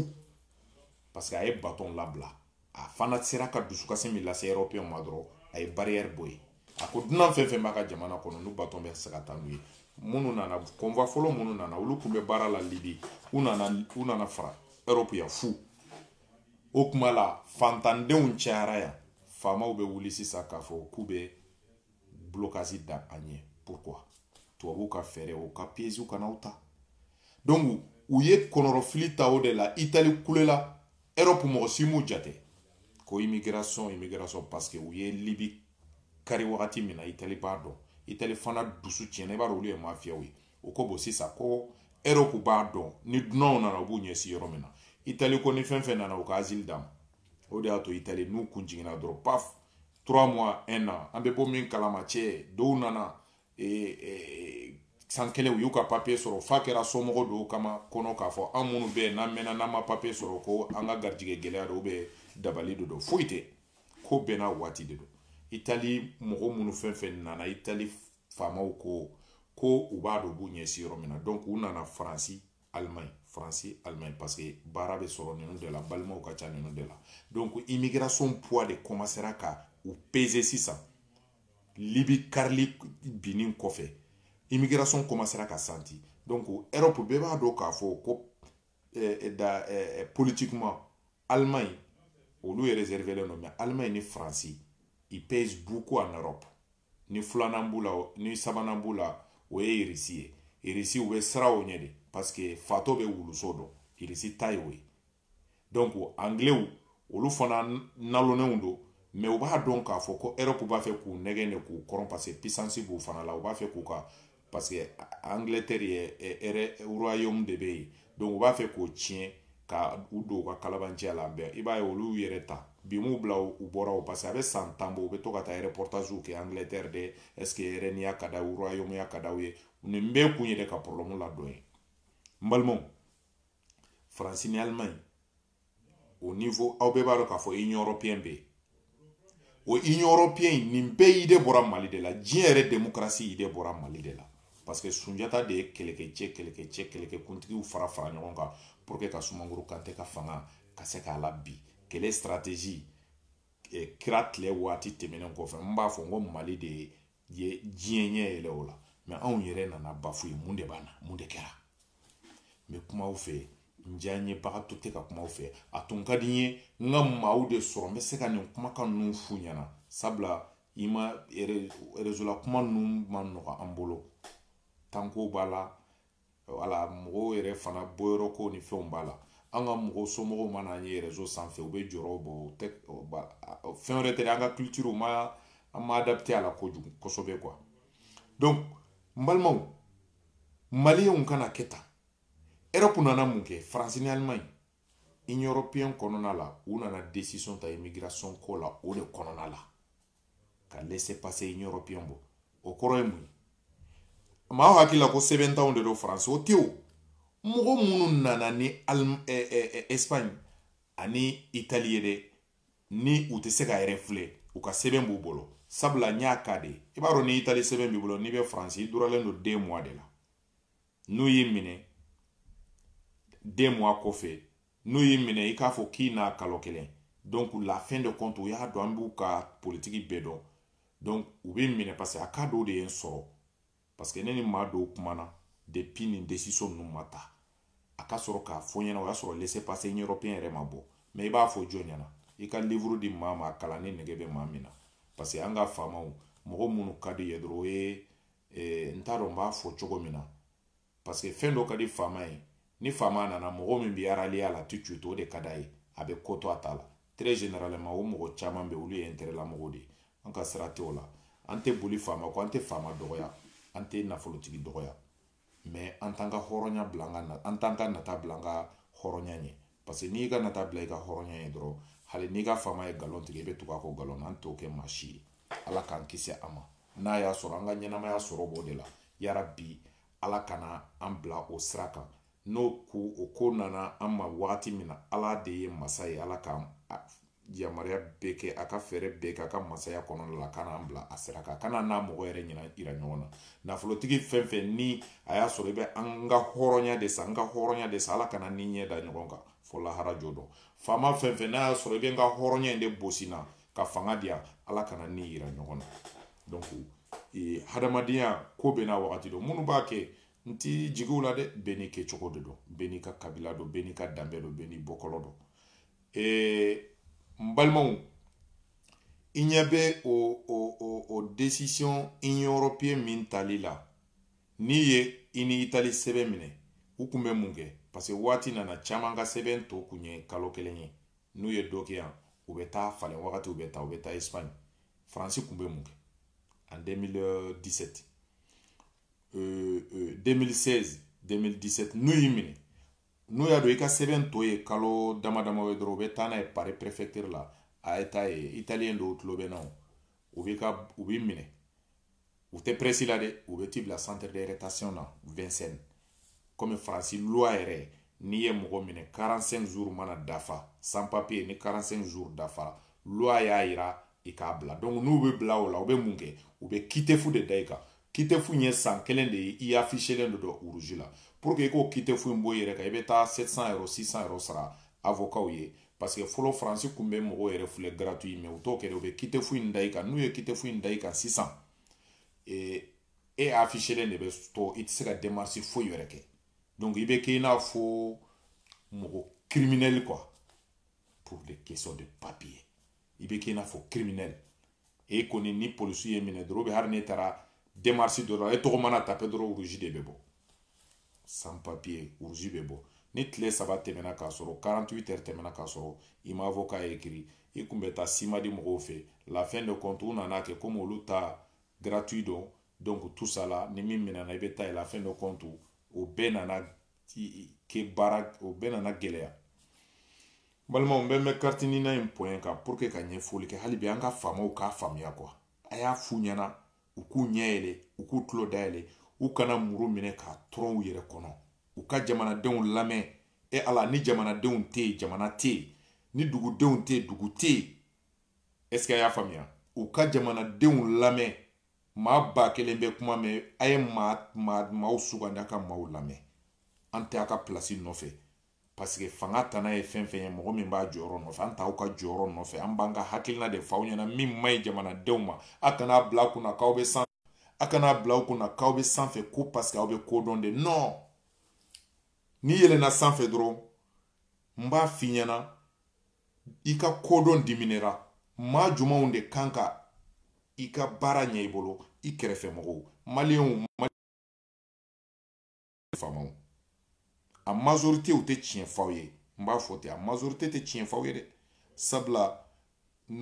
parce que a ye batɔn labila a fana sera ka dusukasi min lase ɛrɔpeyɛn ma dɔrɔn a ye bariyɛri bɔ yen a ko dunan fɛn fɛn b'a ka jamana kɔnɔ n'u batɔn bɛ se ka taa n'u ye minnu nana convoi fɔlɔ minnu nana olu tun bɛ baara la libi u nana u nana fara ɛrɔpu yan fu o kuma la fantandenw cayara yan faamaw bɛ wuli sisan k'a fɔ k'u bɛ blocage da an ɲɛ pourquoi tubabuw ka fɛɛrɛ u ka piège kana aw ta donc u ye kɔnɔrɔfili ta o de la itali kulela europe mɔgɔ si m'u jate ko immigration immigration parce que u ye libi kari wagati min na itali b'a dɔn itali fana dusu tiɲɛna i b'a dɔn olu ye mafiyaw ye u ko bon sisan ko europe b'a dɔn ni dunanw nana u b'u ɲɛsin yɔrɔ min na itali ko ni fɛn fɛn nana u ka asile d'a ma o de y'a to itali n'u kun jiginna dɔrɔn paf trois mois un an an bɛ bɔ min kalama cɛ dɔw nana eh, eh, san kelen u y'u ka papiye sɔrɔ f'a kɛra somɔgɔ dɔw kama kɔnɔ k'a fɔ an minnu bɛ yen n'an mɛnna n'an ma papiye sɔrɔ ko an ka garijigɛ gɛlɛya don bɛ dabali de don foyi tɛ ko bɛɛ n'a waati de don itali mɔgɔ minnu fɛn fɛn nana itali faamaw ko ko u b'a dɔn u b'u ɲɛsin yɔrɔ min na donc u nana faransi Allemagne France Allemagne parce que baara bɛ sɔrɔ ninnu de la balimaw ka ca ninnu de la donc immigration poids de commencera ka u peser sisan Libi karili binni kɔfɛ immigration commencera ka santi donc Europe bɛɛ b'a dɔn k'a fɔ ko eh, eh, da eh, politiquement Allemagne olu ye réservelen don mais Allemagne ni France ils pèsent beaucoup en Europe ni filanan b'u la ni sabanan b'u la o ye irisi ye irisi u bɛ siran o ɲɛ de paseke fatɔ bɛ wuluso dɔn irisi ta ye o ye donc angilew olu fana nalonenw don mɛ u b'a dɔn k'a fɔ ko erɔpu b'a fɛ k'u nɛgɛn de k'u kɔrɔn paseke pisansi b'u fana la u b'a fɛ k'u ka parce que angleterre yɛrɛ royaume de bɛ yen donc u b'a fɛ k'o tiɲɛ ka u don u ka kalabanciya la bɛɛ i b'a ye olu yɛrɛ ta bi m'u bila u bɔra o parce que a bɛ san tan bɔ u bɛ to ka taa reportagew kɛ angleterre de est ce que reine ya ka di u royaume ya ka di u ye nin bɛɛ kun yɛrɛ ka problème ladɔn ye n balimaw faransi ni allemagne o niveau aw bɛɛ b'a dɔn k'a fɔ union européenne bɛ yen o union européenne in nin bɛɛ idée bɔra mali de la diɲɛ yɛrɛ démocratie idée bɔra mali de la parce que sunjata de ye kɛlɛkɛcɛ kɛlɛkɛcɛ kɛlɛkɛkuntigiw fara fara ɲɔgɔn kan pour que ka sumanguru kante ka fanga ka se k'a labin kɛlɛ stratégie eh, kira tile waati tɛmɛnen kɔfɛ n b'a fɔ n ko mali de ye ye diɲɛ ɲɛ yɛlɛ o la mɛ anw yɛrɛ nana ban fu ye mun de b'an na mun de kɛra n bɛ kuma aw fɛ n diyanyebagatɔ tɛ ka kuma aw fɛ a tun ka di n ye n ka maaw de sɔrɔ n bɛ se ka nin kumakan ninnu f'u ɲɛna sabula i ma rezo la kuma ninnu man nɔgɔ an bolo tanko b'a la wala mɔgɔw yɛrɛ fana bɔyɔrɔ ko ni fɛnw b'a la an ka mɔgɔw somɔgɔw mana an ye rezo sanfɛ u bɛ jɔrɔ bon u tɛ fɛn wɛrɛ tɛ an ka kulitiriw ma an ma adapte a la kojugu kosɛbɛ kuwa donc n balimaw maliyɛnw kana kɛ tan erɔpu nana mun kɛ faransi ni alimaɲi union européenne kɔnɔna la u nana décision ta immigration ko la o de kɔnɔna la ka laisser passer in européen bɔ o kɔrɔ ye mun ye maaw hakili la ko sɛbɛntanw de don faransi o tɛ o mɔgɔ minnu nana ni espagne ani itali ye dɛ ni u tɛ se ka yɛrɛ filɛ u ka sɛbɛn b'u bolo sabula n y'a ka de i b'a dɔn ni itali sɛbɛn b'i bolo n'i bɛ faransi i duralen don deux mois de la n'u y'i minɛ deux mois kɔfɛ n'u y'i minɛ i k'a fɔ k'i na kalo kelen donc la fin de compte u y'a dɔn an b'u ka politiki bɛɛ dɔn donc u bɛ minɛ parce que a ka dɔw de ye n sɔrɔ parce que ne ni maa dɔw kumana depuis nin desisiyɔn ninnu ma ta a ka sɔrɔ k'a fɔ ɲɛna o y'a sɔrɔ laisser passer européen yɛrɛ ma bɔ mais i b'a fɔ jɔn ɲɛ na i ka livre di maa ma a kalan ni nege bɛ maa min na parce que an ka faamaw mɔgɔ minnu ka di ye dɔrɔn o ye ee n t'a dɔn n b'a fɔ cogo min na parce que fɛn dɔ ka di faama ye ni faama nana mɔgɔ min b'i rallier a la tout de suite o de ka d'a ye a bɛ ko to a ta la très généralement o mɔgɔ caman bɛ olu ye intérêt la mɔgɔw de ye an ka sira tɛ o la an tɛ boli faama kɔ an tɛ faama dɔgɔya an tɛ nafolotigi dɔgɔya mais an t'an ka hɔrɔnya bila an ka an t'an ka nata bila an ka hɔrɔnya ɲɛ parce que n'i ka nata bila i ka hɔrɔnya ɲɛ dɔrɔn hali n'i ka faama ye nkalon tigɛ i bɛ tugu a kɔ nkalon na an t'o kɛ maa si ye ala k'an kisi a ma n'a y'a sɔrɔ an ka ɲɛnamaya sɔrɔ b'o de la yarabi ala kana an bila o sira kan n'o ko o ko nana an ma wagati min na ala de ye masa ye ala k'an yamaruya bɛɛ kɛ a ka fɛɛrɛ bɛɛ kɛ a ka masaya kɔnɔna ala kana an bila a sira kan kana n'a mɔgɔ yɛrɛ ɲɛna yira ɲɔgɔn na nafolotigi fɛn fɛn ni a y'a sɔrɔ i bɛ an ka hɔrɔnya de san an ka hɔrɔnya de san ala kana n n'i ɲɛ da ɲɔgɔn kan fo lahara jɔ don faama fɛn fɛn n'a y'a sɔrɔ i bɛ n ka hɔrɔnya in de bɔsi n na ka fanga di yan ala kana n n'i yira ɲɔgɔn na donc ee, hadamadenya ko bɛ na wagati dɔ minnu b'a kɛ n ti jigin u la dɛ bɛɛ n'i kɛcogo de don bɛɛ n'i ka kabila don bɛɛ n'i ka danbe don bɛɛ n'i bɔkɔlɔ don ee n balimaw i ɲɛ bɛ o o o o desisiyɔn union européenne min tali la n'i ye i ni itali sɛbɛn minɛ u kun bɛ mun kɛ parce que waati nana caman ka sɛbɛn tɔ kun ye kalo kelen ye n'u ye dɔ kɛ yan u bɛ taa falen wagati u bɛ taa u bɛ taa espagne faransi kun bɛ mun kɛ en 2017 euh, euh, 2016 2017 n'u y'i minɛ n'u y'a dɔn i ka sɛbɛn tɔ ye kalo dama dama ye dɔrɔn u bɛ taa n'a ye pari prefecture la a ye taa ye italien dɔw tulo bɛ n na o u bɛ ka u b'i minɛ u tɛ pressé i la dɛ u bɛ t'i bila centre de rétention na Vincennes komi faransi loi yɛrɛ n'i ye mɔgɔ minɛ 45 jours mana dafa sans papier ni 45 jours dafara loi y'a yira i k'a bila donc n'u b'i bila o la u bɛ mun kɛ u bɛ OQTF de da i kan OQTF in ye san kelen de ye i affichélen de don rouge la pour que i ka OQTF in bɔ i yɛrɛ kan i bɛ taa 700 euro 600 euro sara avocatw ye parce que fɔlɔ faransi kun bɛ mɔgɔw yɛrɛ filɛ gratuit mais u t'o kɛ u bɛ OQTF in da i kan n'u ye OQTF in da i kan sisan e e affichélen de bɛ to i tɛ se ka démarche foyi wɛrɛ kɛ donc i bɛ kɛ i n'a fɔ mɔgɔ criminel quoi pour des questions de papier i bɛ k'i n'a fɔ criminel e kɔni ni polisiw y'i minɛ dɔrɔn hali n'e taara demarche dɔ la e tɔgɔ mana tape dɔrɔn rouge de bɛ bɔ sans papier rouge bɛ bɔ ni tile saba tɛmɛna k'a sɔrɔ 48 heures tɛmɛna k'a sɔrɔ i ma avocat écrit i kun bɛ taa Cimade mɔgɔw fɛ la fin de compte u nana kɛ komi olu ta gratuit don donc tout ça la ni min minɛna i bɛ taa yen la fin de compte o bɛɛ nana kɛ baara o bɛɛ nana gɛlɛya balimaw bɛ mɛ karitiniina in pɔɲɛ kan pour que ka ɲɛfɔli kɛ hali bi an ka faamaw k'a faamuya quoi a y'a f'u ɲɛna u k'u ɲɛ yɛlɛ u k'u tulo dayɛlɛ u kana muru minɛ k'a turu u yɛrɛ kɔnɔ u ka jamanadenw lamɛn e ala ni jamanadenw tɛ yen jamana tɛ yen ni dugudenw tɛ yen dugu tɛ yen est ce que a y'a faamuya u ka jamanadenw lamɛn maa ba kelen bɛ kuma mɛn a ye maa maa maaw sugandi a ka maaw lamɛn an tɛ a ka pilasi nɔfɛ paseke fanga tana ye fɛn fɛn ye mɔgɔ min b'a jɔyɔrɔ nɔfɛ an t'aw ka jɔyɔrɔ nɔfɛ an b'an ka hakilina de f'aw ɲɛna min man ɲi jamanadenw ma a kana bila aw kunna k'aw bɛ san a kana bila aw kunna k'aw bɛ sanfɛ ko paseke aw bɛ ko dɔn de non n'i yɛlɛnna sanfɛ dɔrɔn n b'a f'i ɲɛna i ka kodɔn diminuera maa jumɛnw de kan ka i ka baara ɲɛ i bolo i kɛrɛfɛ mɔgɔw maliyɛnw faamaw a majorité u tɛ tiɲɛ f'aw ye n b'a fɔ ten a majorité tɛ tiɲɛ f'aw ye dɛ sabula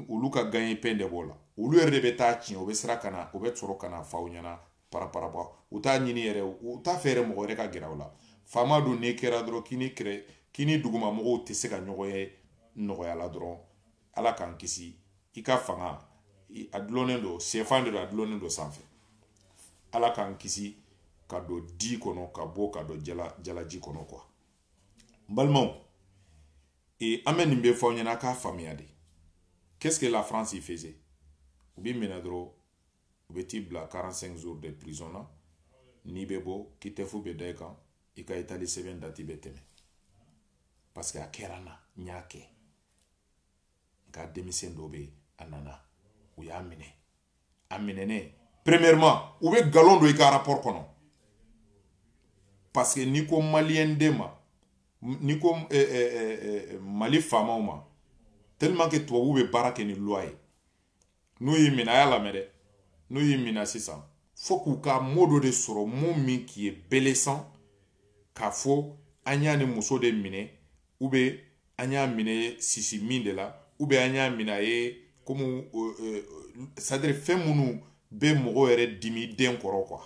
olu ka gagne-pain de b'o la olu yɛrɛ de bɛ taa tiɲɛ u bɛ sira ka na u bɛ sɔrɔ ka na f'aw ɲɛna paraparaba u t'a ɲini yɛrɛ u t'a fɛ yɛrɛ mɔgɔ wɛrɛ ka gɛrɛ aw la faama don n'i kɛra dɔrɔn k'i ni kɛrɛ k'i ni duguma mɔgɔw tɛ se ka ɲɔgɔn ye nɔgɔya la dɔrɔn ala k'an kisi i ka fanga a dulonnen don sɛfan de don a dulonnen don sanfɛ ala k'an kisi ka don di kɔnɔ ka bɔ ka don jala jalaji kɔnɔ quoi n balimaw e an bɛ nin bɛɛ fɔ aw ɲɛna k'a faamuya de qu'est-ce que la France y faisait u b'i minɛ dɔrɔn u bɛ t'i bila 45 jours de prison na n'i bɛ bɔ OQTF bɛ da i kan i ka itali sɛbɛn dati bɛ tɛmɛ parce que a kɛra n na n y'a kɛ nka denmisɛn dɔ bɛ a nana u y'a minɛ a minɛnen premièrement u bɛ nkalon don i ka rapport kɔnɔ parce que n'i ko maliyɛn den ma n'i ko eh, eh, eh, eh, mali faamaw ma tellement que tubabuw bɛ baara kɛ ni loi ye n'u y'i minɛ a y'a lamɛn dɛ n'u y'i minɛ sisan fo k'u ka mot dɔ de sɔrɔ mot min qui est blessant k'a fɔ an y'a ni muso de minɛ ou bien an y'a minɛ sisi min de la ou bien an y'a minɛ a ye komi c'est-à-dire fɛn minnu bɛ mɔgɔ yɛrɛ dimi den kɔrɔ quoi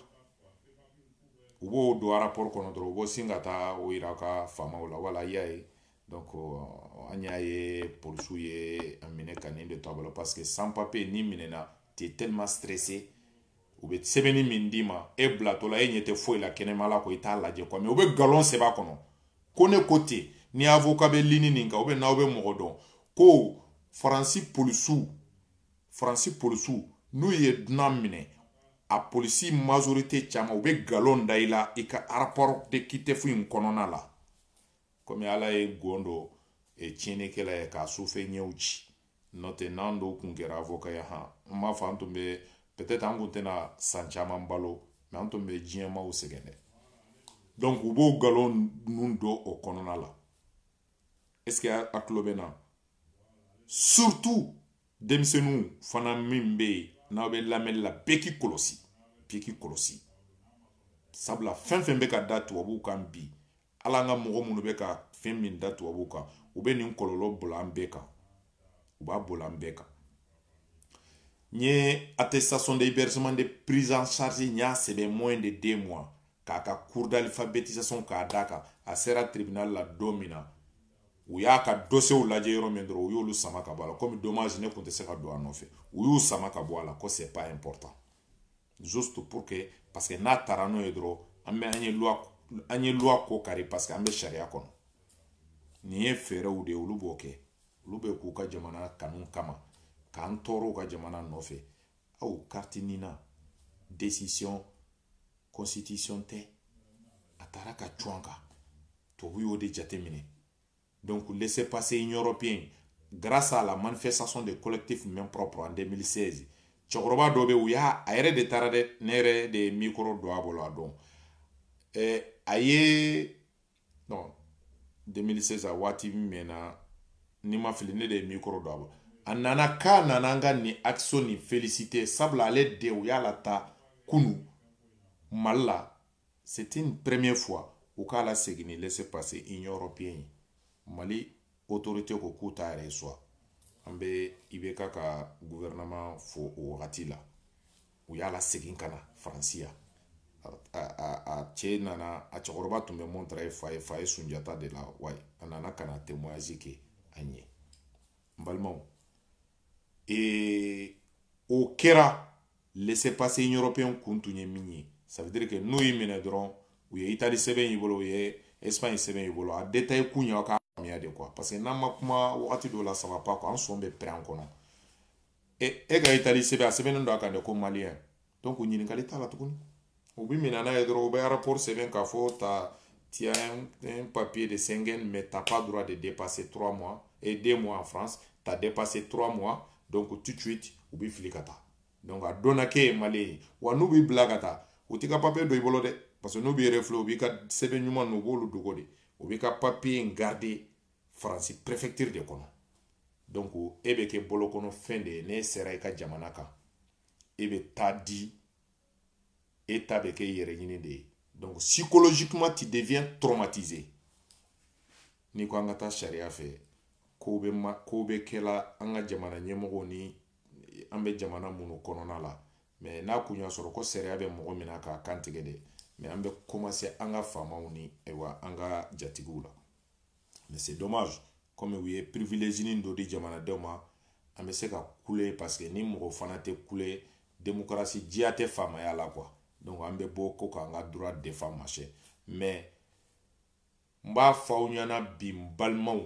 u b'o don arapɔri kɔnɔ dɔrɔn u b'o sin ka taa o yira ka faamaw la voilà y'a ye donc euh, an y'a ye polisiw ye a minɛ ka nin de to a bolo parce que sans papier n'i minɛna t'es tellement stressé u bɛ sɛbɛnni min d'i ma e bilatɔ la e ɲɛ tɛ foyi la kɛnɛma la ko i t'a lajɛ quoi mais u bɛ galon sɛbɛn a kɔnɔ ko ne ko ten ni avocat bɛ ligne nin kan ou bien n'aw bɛ mɔgɔ dɔn ko faransi polisiw faransi polisiw n'u ye dunan minɛ a polisi majorité caman u bɛ galon da i la i ka rapport d'OQTF in kɔnɔna la kɔmi ala ye gon dɔn e tiɲɛnikɛla ye k'a sufɛ ɲɛw ci n'o tɛ n'an dɔw tun kɛra avoka ye han n m'a fɔ an tun bɛ peut-être an tun tɛna san caman balo mɛ an tun bɛ diɲɛmaaw sɛgɛn dɛ donc u b'o nkalon ninnu don o kɔnɔna la est ce que a tulo bɛ na surtout denmisɛnninw fana min bɛ yen n'aw bɛ lamɛnni la bɛɛ k'i kɔlɔsi bɛɛ k'i kɔlɔsi sabula fɛn fɛn bɛ ka da tubabuw kan bi hali an ka mɔgɔ minnu bɛ ka fɛn min da tubabuw kan u bɛ nin kɔlɔlɔ bolo an bɛɛ kan u b'a bolo an bɛɛ kan n ye attestation de hébergement de prise en charge n y'a sɛbɛn moins de deux mois k'a ka cours d'alphabétisation ka d'a kan a sera tribunal la don min na u y'a ka dosiyew lajɛ yɔrɔ min dɔrɔn u y'olu sama ka bɔ a la komi dommage ne tun tɛ se ka don a nɔfɛ u y'u sama ka bɔ a la ko c'est pas important juste pour que parce que n'a taara n'o ye dɔrɔn an bɛ an ye loi an ye loi ko kari parce que an bɛ sariya kɔnɔ nin ye fɛɛrɛw de ye olu b'o kɛ olu bɛ k'u ka jamana kanu kama k'an tɔɔrɔ u ka jamana nɔfɛ aw kariti nin na décision constitution tɛ a taara ka cun an kan tubabu y'o de jateminɛ Donc, laissez passer union européenne. Grâce à la manifestation des collectifs Mains propres en 2016, cɛkɔrɔba dɔ bɛ u y'a a yɛrɛ de taara dɛ ne yɛrɛ de ye mikoro don a bolo a don ɛɛ a ye non 2016 a waati min mɛnna ni n ma fili ne de ye mikoro don a bolo a nana k'a nana an ka nin action nin féliciter sabula ale de u y'a lataa kunu mali la c'est une première fois u k'a lasegin ni laissez passer union européenne ye mali autorité ko k'u t'a reçoit an bɛ IBK ka gouvernement fo o wagati la u y'a lasegin ka na faransi yan a cɛ nana a cɛkɔrɔba tun bɛ montreuil foyer foyer sunjata de la wa a nana ka na témoignage kɛ a ɲɛ n balimaw ee o kɛra laissez passer européen kun tun ye min ye ça veut dire que n'u y'i minɛ dɔrɔn u ye itali sɛbɛn y'i bolo u ye espagne sɛbɛn y'i bolo a détail kun ye aw k'a faamuya dɛ quoi parce que n'an ma kuma wagati dɔw la ça va pas quoi an sɔn bɛ pɛrɛn an kɔnɔ e e ka itali sɛbɛn a sɛbɛnnen don a kan de ko maliyɛn donc ɲininkali t'a la tuguni u b'i minɛ n'a ye dɔrɔn u bɛ aéroport sɛbɛn k'a fɔ ta tu as un, un papier de Schengen mais t'as pas droit de dépasser 3 mois et 2 mois en France t'as dépassé 3 mois donc tout de suite u b'i fili ka taa donc a dɔnna k'e ye malien ye wa n'u b'i bila ka taa u t'i ka papier don i bolo dɛ parce que n'u b'i refouler u b'i ka sɛbɛn ɲuman n'u b'olu dogo de u b'i ka papier in garder faransi préfecture de kɔnɔ donc e bɛ kɛ bolo kɔnɔ fɛn de ye n'e sera i ka jamana kan e bɛ taa di e ta bɛ kɛ i yɛrɛ ɲini de ye donc psychologiquement tu deviens traumatisé n'i ko an ka taa sariya fɛ kow bɛ ma kow bɛ kɛla an ka jamana ɲɛmɔgɔw ni an bɛ jamana minnu kɔnɔna la mais n'a kun y'a sɔrɔ ko sariya bɛ mɔgɔ min na k'a kantigɛ de mais an bɛ commencer an ka faamaw ani wa an ka jatigiw la mais c'est dommage comme u ye privileginin dɔ di jamanadenw ma an bɛ se ka kule parce que ni mɔgɔ fana tɛ kule demokarasi diya tɛ faamaya la quoi donc an bɛ bɔ ko k'an ka droit défendre mais n b'a fɔ aw ɲɛna bi n balimaw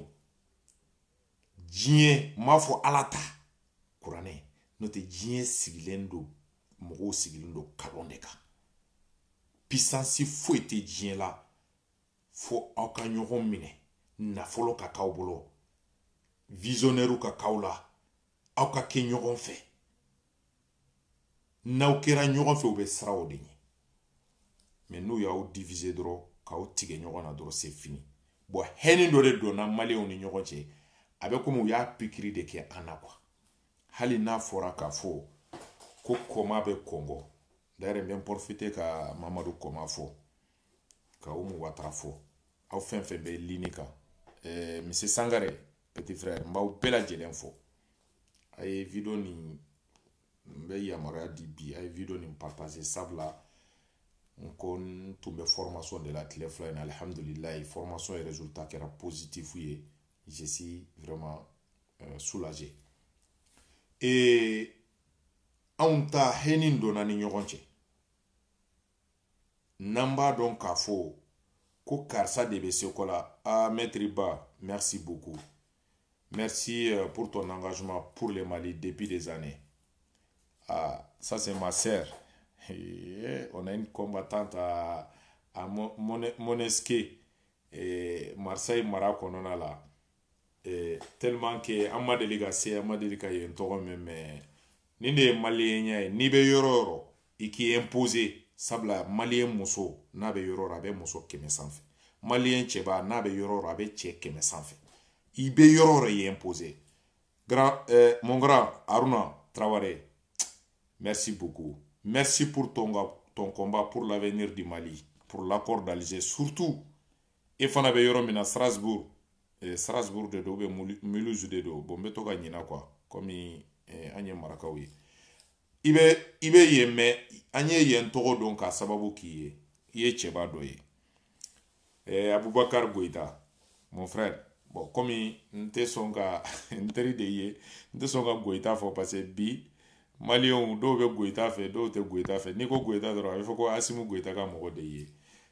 diɲɛ n b'a fɔ ala ta kuranɛ n'o tɛ diɲɛ sigilen don mɔgɔw sigilen don kalon de kan pisansi foyi tɛ diɲɛ la fo aw ka ɲɔgɔn minɛ nafolo ka k'aw bolo visionnairew ka k'aw la aw ka kɛ ɲɔgɔn fɛ n'aw kɛra ɲɔgɔn fɛ u bɛ siran o de ɲɛ mais n'u y'aw diviser dɔrɔn k'aw tigɛ ɲɔgɔn na dɔrɔn c'est fini bon haine dɔ de donna maliyɛnw ni ɲɔgɔn cɛ a bɛ komi u y'a pikiri de kɛ an na quoi hali n'a fɔra k'a fɔ ko kɔma bɛ kongo d'ailleurs n bɛ n ka mamadu kɔma fo ka umu watara fo aw fɛn fɛn bɛ ligne kan ɛɛ merci sangare petit frère n b'aw bɛɛ lajɛlen fo a ye video nin n bɛ yamaruya di bi a ye video nin partage sabula n ko n tun bɛ formation de la tile fila in na alihamdulilayi formation ye résultat kɛra positif ye je suis vraiment euh, soulagé et anw ta haine donna ni ɲɔgɔn cɛ n'an b'a dɔn k'a fɔ ko karisa de bɛ seko la ah maître ba merci beaucoup merci euh, pour ton engagement pour le Mali depuis des années ah ça c'est ma sœur eh, on a une combattante à, à Manosque et Marseille mara kɔnɔna la eh, tellement que an ma deli ka se an ma deli ka yen tɔgɔ mɛn mais nin de ye maliyenya ye n'i bɛ yɔrɔ o yɔrɔ i k'i imposer sabula maliyen muso n'a bɛ yɔrɔ o yɔrɔ a bɛ muso kɛmɛ sanfɛ maliyen cɛba n'a bɛ yɔrɔ o yɔrɔ a bɛ cɛ kɛmɛ sanfɛ i bɛ yɔrɔ o yɔrɔ i imposer grand eh, mon grand Haruna Traoré merci beaucoup merci pour ton ton combat pour l'avenir du Mali pour l'accord d'Alger surtout e fana bɛ yɔrɔ min na strasbourg eh, strasbourg de don ou bien mulhouse de don bon n bɛ to ka ɲina quoi komi eh, an ye marakaw ye i bɛ i bɛ yen mais an ye yen tɔgɔ dɔn k'a sababu k'i ye i ye cɛba dɔ ye eh, abubakar goyita mon frère bon komi n tɛ sɔn ka n teri de ye n tɛ sɔn ka goyita fɔ parce que bi maliyɛnw dɔw bɛ goyita fɛ dɔw tɛ goyita fɛ n'i ko goyita dɔrɔn a bɛ fɔ ko asimu goyita ka mɔgɔ de ye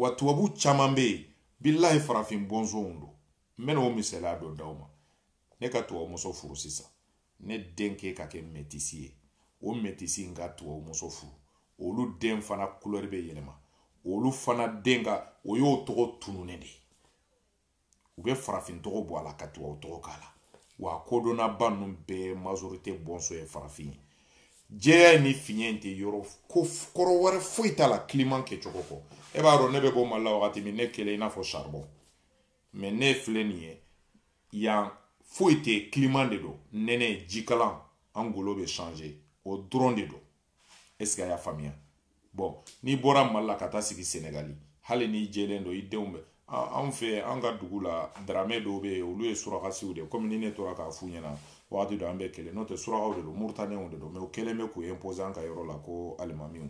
wa tubabu caman bɛ yen bilahi farafin bɔnsɔnw don n bɛna o misaliya dɔ d'aw ma ne ka tubabu muso furu sisan ne den k'e ka kɛ mɛtisi ye o mɛtisi in ka tubabu muso furu olu den fana kulɛri bɛ yɛlɛma olu fana den ka o y'o tɔgɔ tununnen de ye u bɛ farafin tɔgɔ bɔ a la ka tubabu tɔgɔ k'a la wa kodɔnnaba ninnu bɛɛ majorité bɔnsɔn ye farafin ye jɛya ni finya in tɛ yɔrɔ ko kɔrɔ wɛrɛ foyi t'a la kiliman kɛcogo kɔ e b'a dɔn ne bɛ bɔ mali la wagati min ne kɛlen i n'a fɔ saribɔn mais ne filɛ nin ye yan foyi tɛ kiliman de don nɛnɛ jikalan an golo bɛ sanze o dɔrɔn de don est ce que a y'a faamuya bon n'i bɔra mali la ka taa sigi senegali hali n'i jɛlen don i denw bɛ anw fɛ an ka dugu la daramɛ dɔw bɛ yen olu ye surakasiw de komi ni ne tora k'a f'u ɲɛna wagati dɔ an bɛɛ kelen n'o tɛ surakaw de don moritanɛw de don mais u kɛlen bɛ k'u imposer an ka yɔrɔ la ko alimamiw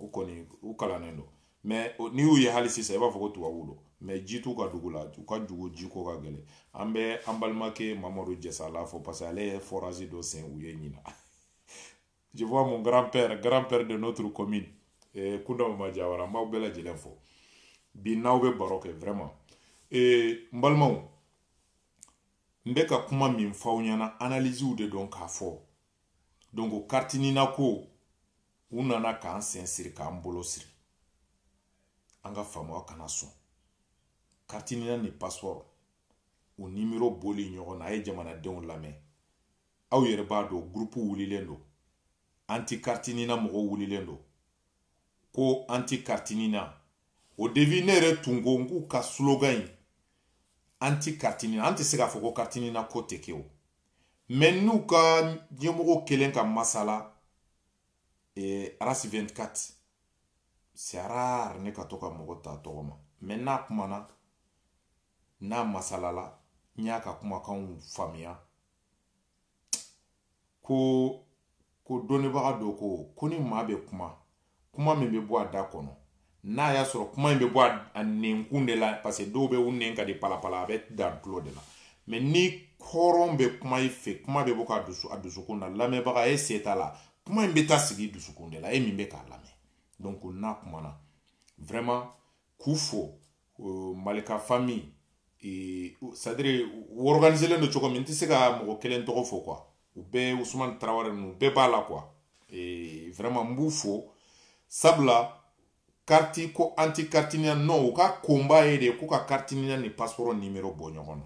u kɔni u kalannen don mais n'i y'u ye hali sisan i b'a fɔ ko tubabuw don mais ji t'u ka dugu la u ka dugu ji ko ka gɛlɛn an bɛ an balimakɛ mamadu jɛsala fo parce que ale ye forage dɔ sen u ye ɲinan je vois mon grand-père grand-père de notre commune eh, kundaw ma jawara n b'aw bɛɛ lajɛlen fo bi n'aw bɛ baro kɛ vraiment eh, n balimaw n bɛ ka kuma min fɔ aw ɲɛna analysew de don k'a fɔ donc carte NINA ko u nana k'an sen siri k'an bolo siri an ka faamaw kana sɔn carte NINA ni passeport o nimero boli ɲɔgɔn na a ye jamanadenw lamɛn aw yɛrɛ b'a dɔn gurupu wulilen don antikartinina mɔgɔw wulilen don ko antikartinina au début ne yɛrɛ tun ko n k'u ka slogan in antikartinina an tɛ se k'a fɔ ko kartinina ko tɛ kɛ o mɛ n'u ka ɲɛmɔgɔ kelen ka masala eh, arasi 24 sara ne ka to ka mɔgɔ ta tɔgɔ ma mɛ n'a kumana n'a masalala n y'a ka kumakanw faamuya ko ko dɔnnibaga dɔ ko ko ni maa bɛ kuma kuma min bɛ bɔ a da kɔnɔ n'a y'a sɔrɔ kuma in bɛ bɔ a nɛnkun de la parce que dɔw bɛ u nɛn ka di palapala a bɛ dan tulo de la mɛ ni hɔrɔn bɛ kuma i fɛ kuma bɛ bɔ ka dusu a dusukun na lamɛnbaga e se t'a la kuma in bɛ taa sigi dusukun de la e min bɛ k'a lamɛn donc n'a kumana vraiment k'u fo malika fami c'est-à-dire u ɔrɔganizelen don cogo min n tɛ se ka mɔgɔ kelen tɔgɔ fɔ quoi u bɛɛ usumani tarawele ninnu bɛɛ b'a la quoi vraiment n b'u fo sabula kariti ko anti kartinina ninnu ka konba ye de ko ka kartinina ni pasiporo nimero bɔ ɲɔgɔn na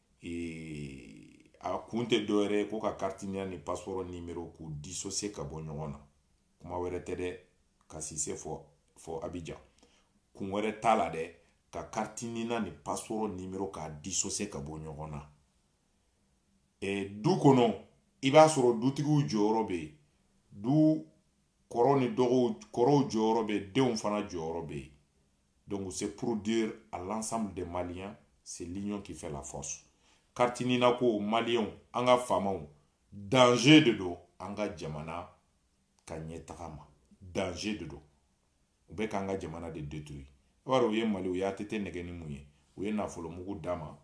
a kun tɛ dɔwɛrɛ ye ko ka kartinina ni pasiporo nimero k'u dissocier ka bɔ ɲɔgɔn na kuma wɛrɛ tɛ dɛ ka si se fo a bɛ ja kun wɛrɛ t'a la dɛ ka kartinina ni pasiporo nimero k'a dissocier ka bɔ ɲɔgɔn na e, du kɔnɔ i b'a sɔrɔ dutigiw jɔyɔrɔ bɛ yen du kɔrɔ ni dɔgɔw kɔrɔw jɔyɔrɔ bɛ denw fana jɔyɔrɔ bɛ yen Donc c'est pour dire à l'ensemble des Maliens, c'est l'union qui fait la force. Kartinina ko Maliens, an ka faamaw, danger de do an ka jamana ka ɲɛtaga ma. Danger de do. U bɛ k'an ka jamana de détruire. I b'a dɔn u ye Mali, u ye ATT nɛgɛn ni mun ye, u ye nafolomugu d'a ma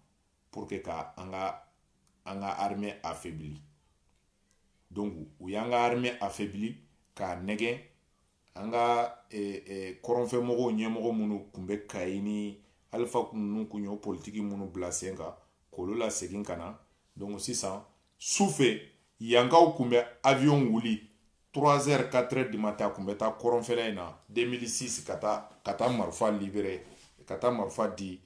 pour que ka an ka an ka armée affaibli. Donc u y'an ka armée affaibli k'a nɛgɛn an ka kɔrɔnfɛn mɔgɔw ɲɛmɔgɔ minnu tun bɛ kayi ni alifa ninnu kun y'o politiki minnu bila sen kan k'olu la segin ka na donc sisan su fɛ yankaw kun bɛ avion wuli 3 heures 4 heures du matin a kun bɛ taa kɔrɔnfɛla in na 2006 ka taa ka taa marifa libere ka taa marifa di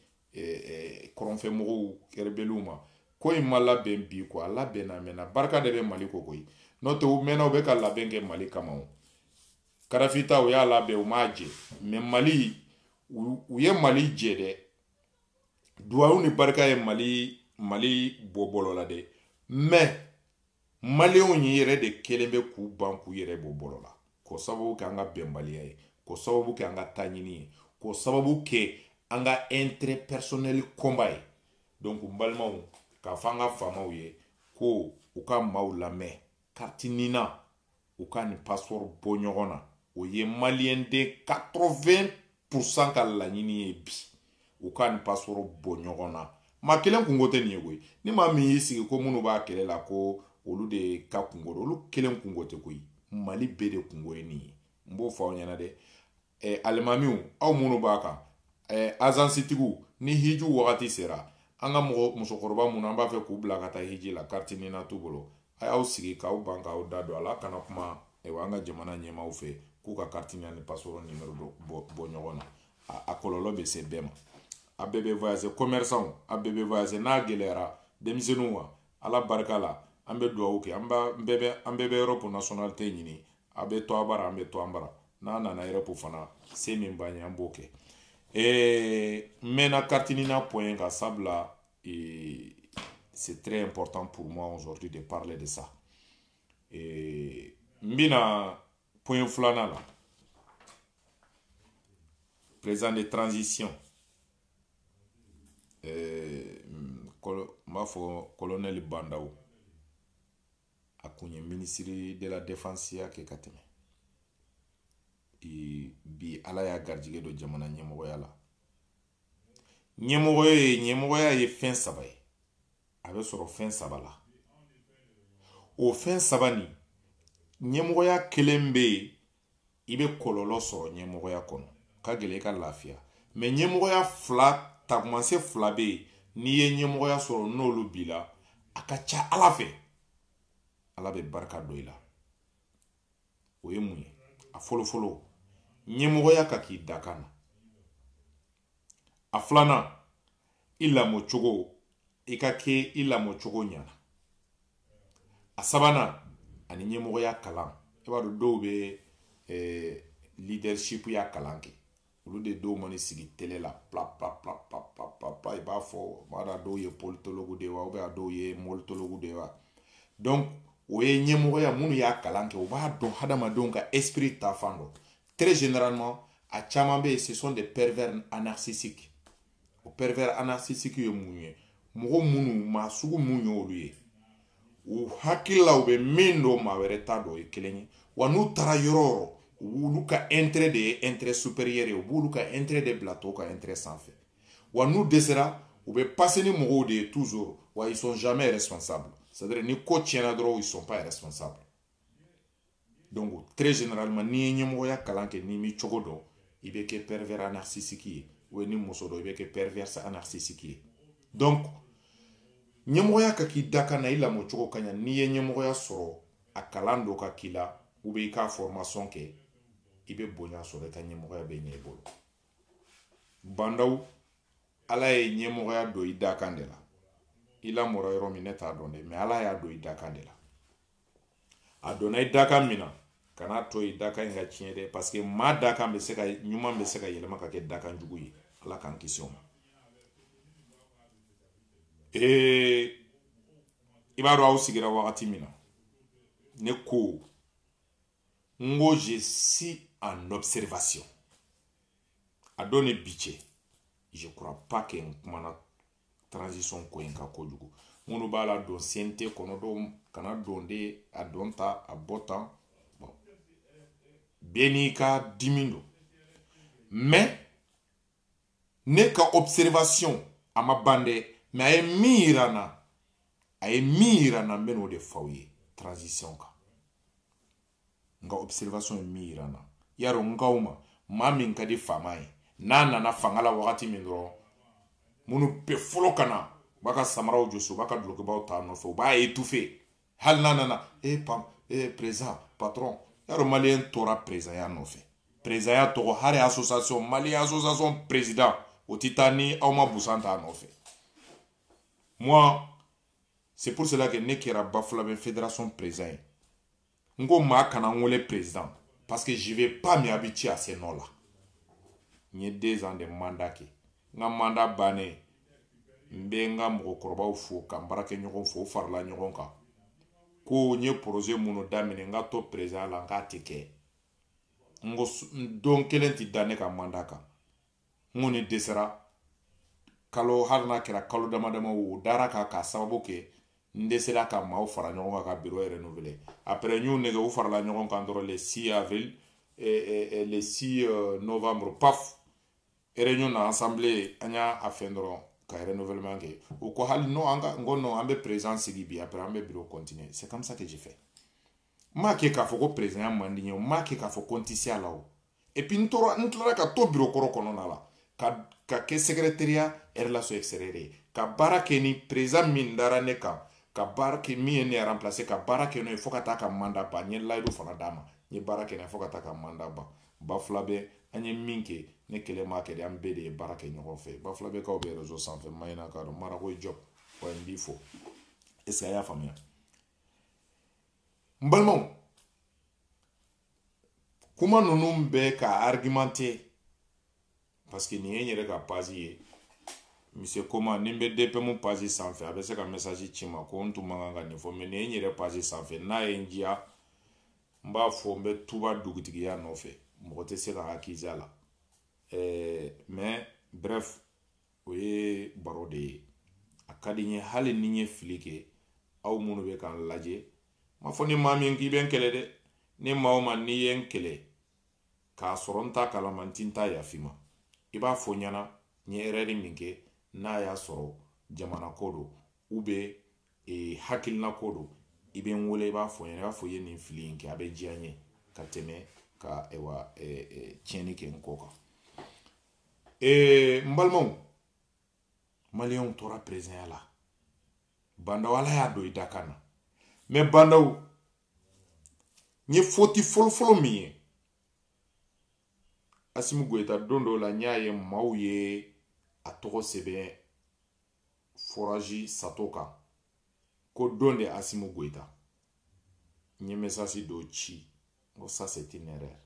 kɔrɔnfɛ mɔgɔw kɛ rebɛliw ma ko in ma labɛn bi ko a labɛnna mɛnna barika de bɛ mali kɔ koyi n'o tɛ u mɛnna u bɛ ka labɛn kɛ mali kama o kadafi ta u y'a labɛn u m'a jɛ mɛ mali u ye mali jɛ dɛ duwawu ni barika ye mali mali bɔ bɔlɔ la dɛ mɛ maliyɛnw yɛrɛ de kɛlen bɛ k'u ban k'u yɛrɛ b'o bolo la k'o sababu kɛ an ka bɛnbaliya ye k'o sababu kɛ an ka taɲini ye k'o sababu kɛ an ka intérêt personnel combat ye donc n balimaw k'a fɔ an ka faamaw ye ko u ka maaw lamɛn kariti nina u k'a ni pasipɔri bɔ ɲɔgɔn na o ye maliyɛnden 80 pourcent ka laɲini ye bi u k'a ni pasipɔri bɔ ɲɔgɔn na maa kelen kunko tɛ nin ye koyi ni maa min y'i sigi ko minnu b'a kɛlɛ la ko olu de ka kunko don olu kelen kunko tɛ koyi mali bɛɛ de kunko ye nin ye n b'o fɔ aw ɲɛna dɛ eh, alimamiw aw minnu b'a kan eh, azansitigiw ni hiju wagati sera an ka mɔgɔ musokɔrɔba minnu an b'a fɛ k'u bila ka taa hiji la kariti nina t'u bolo a y'aw sigi k'aw ban k'aw da don a la ka na kuma eh, an ka jamana ɲɛmaaw fɛ k'u ka kariti nina ni pasipɔri nimero bɔ ɲɔgɔn na a kɔlɔlɔ bɛ se bɛɛ ma a bɛɛ bɛ voyage commerçant a bɛɛ bɛ voyage n'a gɛlɛyara denmisɛnninw wa ala barika la an bɛ dugawu kɛ an bɛɛ bɛ an bɛɛ bɛ europe nasɔnalite ɲini a bɛ to a bara an bɛ to an bara n'an nana europe fana se min b'an ye an b'o kɛ ee n mɛɛnna kariti nina pɔn kan sabula ee c'est très important pour moi aujourd'hui de parler de ça ee n bɛ na pɔn filanan la président de transition n b'a fɔ kɔlɔnɛli ba ndaw a kun ye minisiri de la defansiya kɛ ka tɛmɛ bi ala y'a garijɛgɛ don jamana ɲɛmɔgɔya la ɲɛmɔgɔ ye ɲɛmɔgɔya ye fɛn saba ye a bɛ sɔrɔ fɛn saba la o fɛn saba nin ɲɛmɔgɔya kelen bɛ yen i bɛ kɔlɔlɔ sɔrɔ ɲɛmɔgɔya kɔnɔ ka gɛlɛ i ka lafiya mɛ ɲɛmɔgɔya fila tagamasiyɛn fila bɛ yen n'i ye ɲɛmɔgɔya sɔrɔ n'olu b'i la a ka ca ala fɛ ala bɛ barika don i la o ye mun ye a fɔlɔfɔlɔ ɲɛmɔgɔya ka k'i dakan na a filanan i lamɔ cogo i ka kɛ i lamɔ cogo ɲɛna a sabanan ani ɲɛmɔgɔya kalan i b'a dɔn dɔw bɛ eh, leadership ya kalan kɛ olu de dɔw mana sigi tele la plapplapplapplapla i b'a fɔ mada dɔw ye politologu de ye wa ou bien a dɔw ye molitologu de ye wa donc o ye ɲɛmɔgɔya minnu y'a kalan kɛ u b'a dɔn hadamadenw ka esprit taafan dɔn très généralement a caman bɛ yen ce sont des pervers narcissiques o pervers narcissiques ye mun ye mɔgɔ minnu maa sugu mun ye olu ye u hakili la u bɛ min dɔn maa wɛrɛ t'a dɔn o ye kelen ye wa n'u taara yɔrɔ o yɔrɔ u b'olu ka intérêt de ye intérêt supérieur ye u b'olu ka intérêt de bila tɔw ka intérêt sanfɛ wa n'u dɛsɛra u bɛ passer ni mɔgɔw de ye toujours wa ils sont jamais responsables c'est à dire ni ko tiɲɛna dɔrɔn ils sont pas responsables donc très généralement n'i ye ɲɛmɔgɔya kalan kɛ n'i m'i cogo dɔn i bɛ kɛ pervers narcissique ye ou ni muso don i bɛ kɛ perverse narcissique ye donc ɲɛmɔgɔya ka k'i dakan na i lamɔ cogo ka ɲa n'i ye ɲɛmɔgɔya sɔrɔ a kalan dɔ ka k'i la ou bien i ka formation kɛ i bɛ bonya sɔrɔ i ka ɲɛmɔgɔya bɛ ɲɛ i bolo bon dɔw ala ye ɲɛmɔgɔya don i dakan de la i lamɔra yɔrɔ min ne t'a dɔn dɛ mais ala y'a don i dakan de la a donna i dakan min na kan'a to i dakan in ka tiɲɛ dɛ parce que maa dakan bɛ se ka ɲuman bɛ se ka yɛlɛma ka kɛ dakan jugu ye ala k'an kisi o ma ee i b'a dɔn aw sigira wagati min na ne ko n ko je suis en observation a don ni bi cɛ je crois pas que n kumana transition ko in kan kojugu minnu b'a la don sente kɔnɔ dɔw kana don dɛ a don tan a bɔ tan bɛɛ n'i ka dimi don mais ne ka observation a ma ban dɛ mais a ye min yira n na a ye min yira n na n bɛ n'o de fɔ aw ye transition kan n ka observation ye min yira n na y'a dɔn n kaw ma maa min ka di faama ye n'a nana fanga la wagati min dɔrɔn minnu bɛɛ fɔlɔ ka na u b'a ka samaraw jɔsi u b'a ka dulokibaw t'a nɔfɛ u b'a étouffer hali n'a nana e eh, pam e eh, président patron y'a dɔn maliyɛn tɔɔrɔla présidenya nɔfɛ présidenya tɔgɔ hali association maliyɛn association président o ti taa ni aw ma busan t'a nɔfɛ moi c'est pour cela que ne kɛra bafulabe fédération président ye n ko maa kana n wele président parce que je vais pas m'habituer à ces noms là n ye deux ans de mandat kɛ n ka mandat bannen n bɛ n ka mɔgɔkɔrɔbaw fo ka n baarakɛɲɔgɔnw fo u farala ɲɔgɔn kan ko n ye projet minnu daminɛ n ka to président la n k'a tɛ kɛ n ko don kelen tɛ da ne ka mandat kan n kɔni dɛsɛra kalo hali n'a kɛra kalo dama dama o dara a kan k'a sababu kɛ n dɛsɛra ka maaw fara ɲɔgɔn kan ka bureau renouveler après n y'u nɛgɛn u farala ɲɔgɔn kan dɔrɔn le 6 avril eh, eh, eh, le 6 euh, novembre paf réunion na assemblée an y'a a fɛn dɔrɔn ka renouvellement kɛ u ko hali non an ka n ko non an bɛ président sigi bi après an bɛ bureau continuer c'est comme ça que j'ai fait n m'a kɛ k'a fɔ ko perezanya man di n ye n m'a kɛ k'a fɔ ko n tɛ se a la o epi n tora n tilara ka to biro kɔrɔ kɔnɔna la ka ka kɛ secrétaire à relation extérieure ye ka baara kɛ ni perezan min dara ne kan ka baara kɛ min ye ne remplacer ka baara kɛ n'o ye fo ka taa ka manda ban n ye layidu fana d'a ma n ye baara kɛ n'a ye fo ka taa ka manda ban ba fila bɛ an ye min kɛ ne kelen m'a kɛ dɛ an bɛɛ de ye baara kɛ ɲɔgɔn fɛ ba fila bɛ kaw bɛ rezo sanfɛ mayina k'a dɔn marako jɔ wa n b'i fo est ce que a y'a faamuya n balimaw kuma ninnu bɛ ka argumenter parce que nin ye n yɛrɛ ka pazi ye mise koma ni n bɛ dpmu pazi sanfɛ a bɛ se ka mɛsaji ci n ma ko n tun man kan ka nin fɔ mɛ nin ye n yɛrɛ pazi sanfɛ n'a ye n diya n b'a fɔ n bɛ tuba dugutigiya nɔfɛ mɔgɔ tɛ se ka n accuser a la ɛɛ mɛ bref o ye baro de ye a ka di n ye hali ni n ye fili kɛ aw minnu bɛ k'an lajɛ n m'a fɔ ni maa min k'i bɛ n kɛlɛ dɛ ni maa o maa n'i ye n kɛlɛ k'a sɔrɔ n t'a kalama n ti n tɛ yaf'i ma i b'a fɔ n ɲɛ na n ye erɛri min kɛ n'a y'a sɔrɔ jamana ko don u bɛ e, hakilina ko don i bɛ n wele i b'a fɔ n ɲɛ na i b'a fɔ i ye nin fili in kɛ a bɛ diya n ye ka tɛmɛ ka wa e, e, tiɲɛni kɛ n kɔ kan ee n balimaw maliyɛnw tora perezɛnya la ba ndaw ala y'a don i dakan na mɛ ba ndaw n ye foti fɔlɔfɔlɔ min ye asimi goyita don dɔ la n y'a ye maaw ye a tɔgɔ sɛbɛn forazi sato kan ko don de asimi goyita n ye mesasi dɔ ci n ko ça c'est une erreur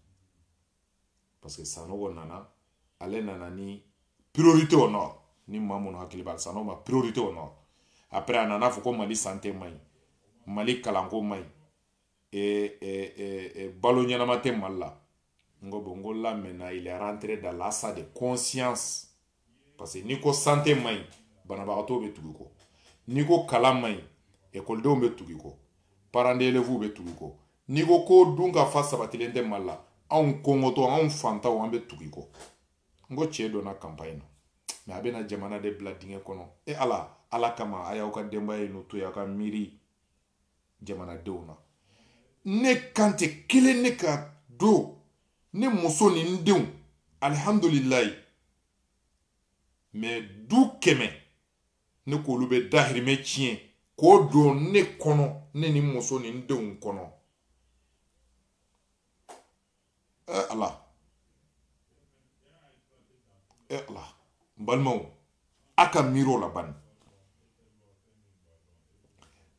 parce que sanogo nana ale nana ni priorité au nord ni maa minnu hakili b'a la sanogo ma priorité au nord après a nana a fɔ ko mali sante man ɲi mali kalanko man ɲi e, e, e, e, balo ɲɛnama tɛ mali la n ko bon n ko là maintenant il est rentré dans l'achat de conscience parce que n'i ko sante man ɲi banabagatɔw bɛ tugu i kɔ n'i ko kalan man ɲi ekɔlidenw bɛ tugu i kɔ parents d'élèves bɛ tugu i kɔ n'i ko ko dunkafa sabatilen tɛ mali la anw kɔngɔtɔ anw fantaw an bɛ tugu i kɔ n ko cɛ donna kanpayi na mɛ a bɛna jamana de bila dingɛ kɔnɔ e ala ala kama a y'aw ka denbaya ye n'o to ye aw ka miiri jamanadenw na ne kan tɛ kelen ne ka du ne muso ni n denw alihamdulilayi mɛ du kɛmɛ ne k'olu bɛɛ dahirimɛ tiɲɛ k'o don ne kɔnɔ ne ni muso ni n denw kɔnɔ ɛ ala ɛ ala n balimaw a ka miiri o la bani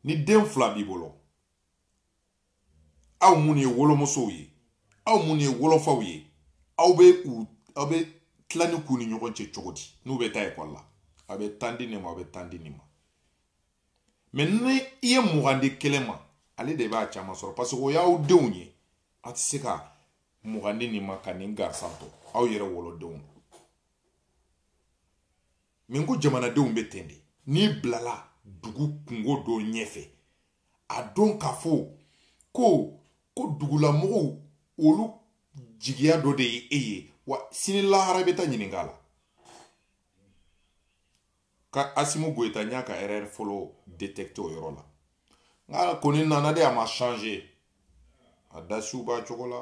ni den fila b'i bolo aw minnu ye wolomusow ye aw minnu ye wolofaw ye aw bɛ u aw bɛ tilani k'u ni ɲɔgɔn cɛ cogo di n'u bɛ taa ekɔli la a bɛ tan di nin ma a bɛ tan di nin ma mais ni i ye mugan di kelen ma ale de b'a caman sɔrɔ parce que o y'aw denw ye a tɛ se ka mugan di nin ma ka nin gansan to aw yɛrɛ wolodenw min ko jamanadenw bɛ ten de n'i bilala dugu kungo dɔ ɲɛfɛ a don k'a fɔ ko ko dugulamɔgɔw olu jigiya dɔ de ye e ye wa sini lahara bɛ taa ɲininka la ka asimi goyita n y'a ka erreur fɔlɔ détecter o yɔrɔ la nka kɔni nana de a ma changer a dasiw b'a cogo la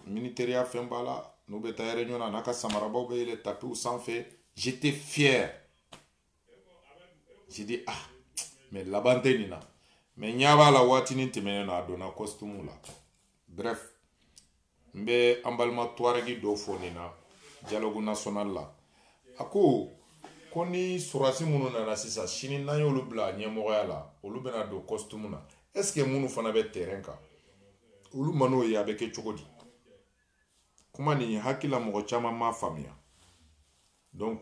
militɛriya fini b'a la n'u bɛ taa réunion na n'a ka samarabaw bɛ yɛlɛn tapiw sanfɛ j'étais fier j'ai dit ah mais laban tɛ nin na mais n ɲɛ b'a la waatinin tɛmɛnen na a donna costume la bref n bɛ an balima tuwaregi dɔ fo nin na dialogue national la a ko ko ni sɔrɔdasi minnu nana sisan sini n'an y'olu bila ɲɛmɔgɔya la olu bɛna don kɔsitumu na est ce que minnu fana bɛ terrain kan olu man'o ye a bɛ kɛ cogo di kuma nin hakilila mɔgɔ caman m'a faamuya donc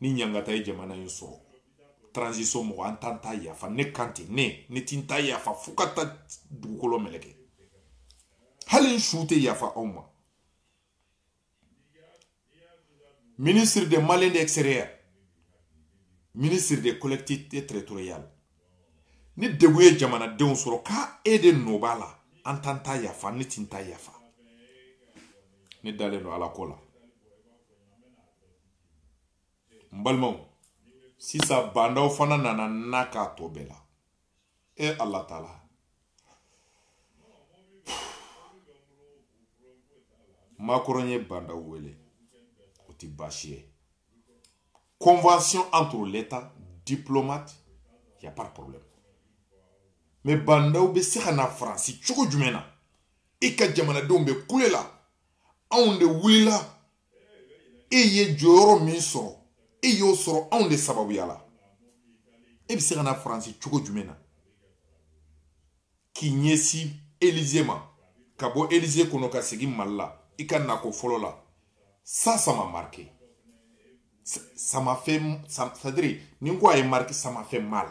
ni ɲangata ye jamana in sɔrɔ transition mɔgɔ an t'an ta yafa ne kan ten ne ne ti n ta yafa fo ka taa dugukolo meleke hali n su tɛ yafa aw ma ministre de malien de extérieur ministre de collectivité territoriale ni degun ye jamanadenw sɔrɔ k'a e de nɔ b'a la an t'an ta yafa ne ti n ta yafa ne dalen don ala ko la n balimaw sisan ba ndaw fana nana na k'a tɔ bɛɛ la e ala taala makɔrɔn ye ba ndaw wele o ti baasi ye convention entre l'état diplomate y a pas de problème mais ba ndaw bɛ se ka na faransi cogo jumɛn na i ka jamanadenw bɛ kule la anw de wulila e ye jɔyɔrɔ min sɔrɔ e y'o sɔrɔ anw de sababuya la e bɛ se ka na faransi cogo jumɛn na k'i ɲɛsin elize ma ka bɔ elize kɔnɔ ka segin mali la i ka nako fɔlɔ la ça ça m'a marqué ça m'a fait c'est-à-dire nin ko a ye n marquer ça m'a fait mal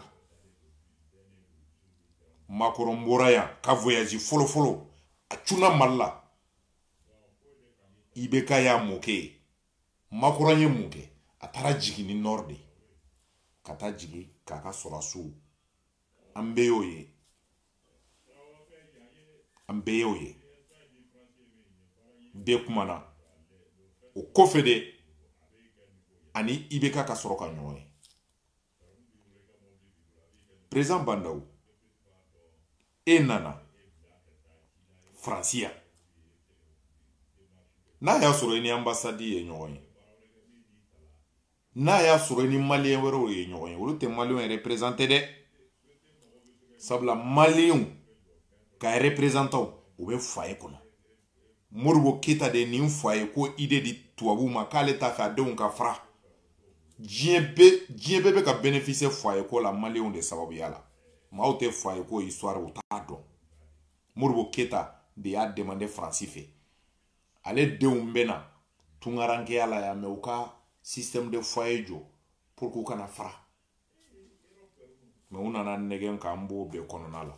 makɔrɔn bɔra yan ka voyazi fɔlɔfɔlɔ a cunna mali la ibeka ye mun kɛ makɔrɔn ye mun kɛ a taara jigin nin nord de ka taa jigin k'a ka sɔrɔdasiw an bɛɛ y'o ye an bɛɛ y'o ye bɛɛ kumana o kɔfɛ de a ni ibeka ka sɔrɔ ka ɲɔgɔn ye perezidan ba ndaw e nana faransi yan n'a y'a sɔrɔ i ni anbasadi ye ɲɔgɔn ye n'a y'a sɔrɔ i ni maliyɛn wɛrɛw ye ɲɔgɔn ye olu tɛ maliyɛnw reperezante dɛ sabula maliyɛnw ka reperezantanw u bɛ foyer kɔnɔ modibo keyita de nin foyer ko idée di tubabuw ma k'ale t'a fɛ a denw ka fara diɲɛ bɛ diɲɛ bɛɛ bɛ ka benefise foyer ko la maliw de sababuya la maaw tɛ foyer ko histoire u t'a dɔn modibo keyita de y'a demander faransi fɛ ale denw bɛ na tungarankeya la yan mais u ka système de foyer jɔ pour k'u kana fara mais u nana nɛgɛn k'an b'o bɛɛ kɔnɔna la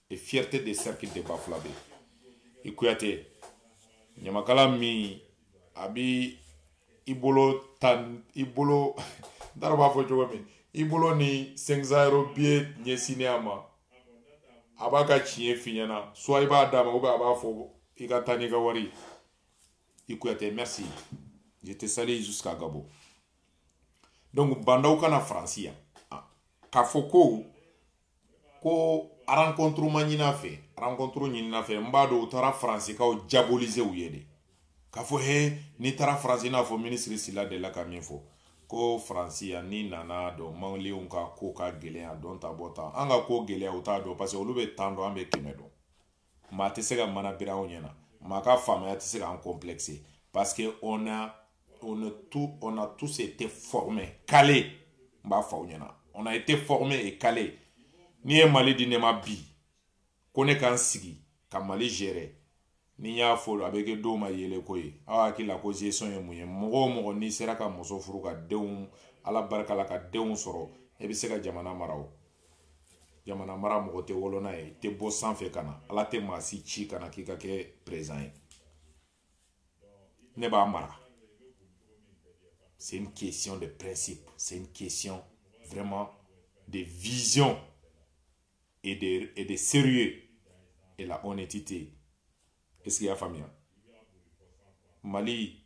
et fierté de cercle de bafulabe i kuyate ɲamakala min a bɛ i bolo ta i bolo n taara b'a fɔ cogo min i bolo ni cinq cents euros biye ɲɛsinnen a ma a b'a ka tiɲɛ f'i ɲɛna soit i b'a d'a ma ou bien a b'a fɔ i ka taa n'i ka wari i kuyate merci je te salue jusqu'à gabon donc ba ndaw ka na faransi yan ah, k'a fɔ ko ko rencontre ma ɲin'a fɛ rencontre ɲinina a fɛ n b'a dɔn u taara faransiikaw diaboliser u ye de k'a fɔ he n'i taara faransi n'a fɔ minisiri sila delila ka min fɔ ko faransi yan n'i nana a dɔn maliyɛnw ka ko ka gɛlɛya dɔn ta bɔ tan an ka ko gɛlɛya u t'a dɔn parce que olu bɛ tan dɔn an bɛ kɛmɛ dɔn maa tɛ se ka mana biri anw ɲɛna maa ka faamaya tɛ se k'an complexer parce que on a on a tout on a tous été formés calés n b'a fɔ aw ɲɛna on a été formés et calés n'i ye mali di ne ma bi ko ne ka n sigi ka mali gérer ni n y'a fɔ a bɛ kɛ dɔw ma yɛlɛko ye aw hakili la ko gestion ye mun ye mɔgɔ o mɔgɔ n'i sera ka muso furu ka denw ala barika la ka denw sɔrɔ e bɛ se ka jamana mara o jamana mara mɔgɔ tɛ wolo n'a ye tɛ bɔ sanfɛ ka na ala tɛ maa si ci ka na k'i ka kɛ président ye ne b'a mara c'est une question de principe c'est une question vraiment de vision et de, et de sérieux et la honnêteté est ce qu'i y'a faamuya mali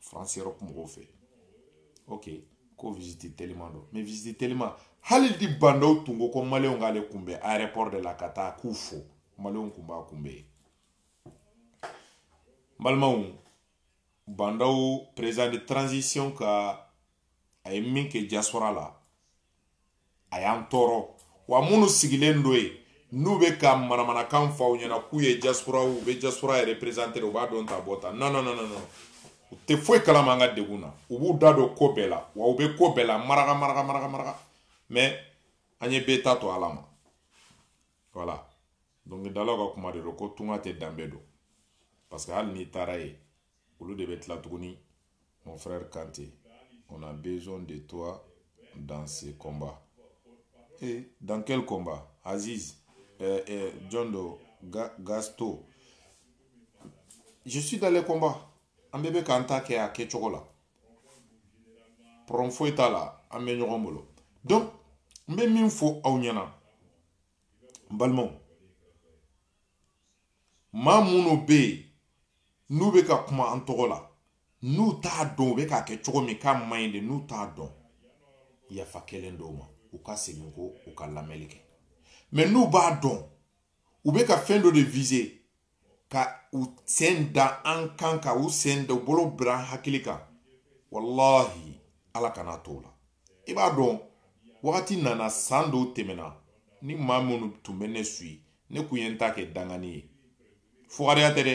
faransi yɔrɔ kun mɔgɔw fɛ ok ko visite teliman don mɛ visite teliman hali ni Bah N'Daw tun ko ko maliyɛnw k'ale kunbɛn aéroport de la ka taa k'u fo maliyɛnw kun b'a kunbɛn yen balimaw Bah N'Daw président de transition ka a ye min kɛ diaspora la a y'an tɔɔrɔ wa minnu sigilen don yen n'u bɛ ka manamanakan fɔ aw ɲɛna k'u ye diaspora u bɛ diaspora yɛrɛ représenter u b'a dɔn ta bɔ ta non non non non u tɛ foyi kalama an ka degun na u b'u da don ko bɛɛ la wa u bɛ ko bɛɛ la maraka maraka maraka maraka mais an ye bɛɛ ta to ala ma voilà dɔnkilidalaw ka kuma de don ko tunga tɛ danbe dɔn parce que hali n'i taara yen olu de bɛ tila tuguni mon frère Kante on a besoin de toi dans ce combat et eh, dans quel combat Aziz euh, euh, John Do Ga, Gasto je suis dans le combat an bɛɛ bɛ k'an ta kɛ a kɛcogo la problème foyi t'a la an bɛ ɲɔgɔn bolo donc n bɛ min fɔ aw ɲɛna n balimaw maa minnu bɛ yen n'u bɛ ka kuma an tɔgɔ la n'u t'a dɔn u bɛ k'a kɛ cogo min k'a man ɲi de n'u t'a dɔn yafa kɛlen don u ma u ka segin kɔ u ka lamɛnni kɛ mɛ n'u b'a dɔn u bɛ ka fɛn dɔ de vize ka u sen da an kan ka u sen da u bolo bila an hakili kan walahi ala kan'a t'o la i b'a dɔn wagati nana san dɔw tɛmɛna ni maa minnu tun bɛ ne suivre ne kun ye n ta kɛ dangani ye fugariya tɛ dɛ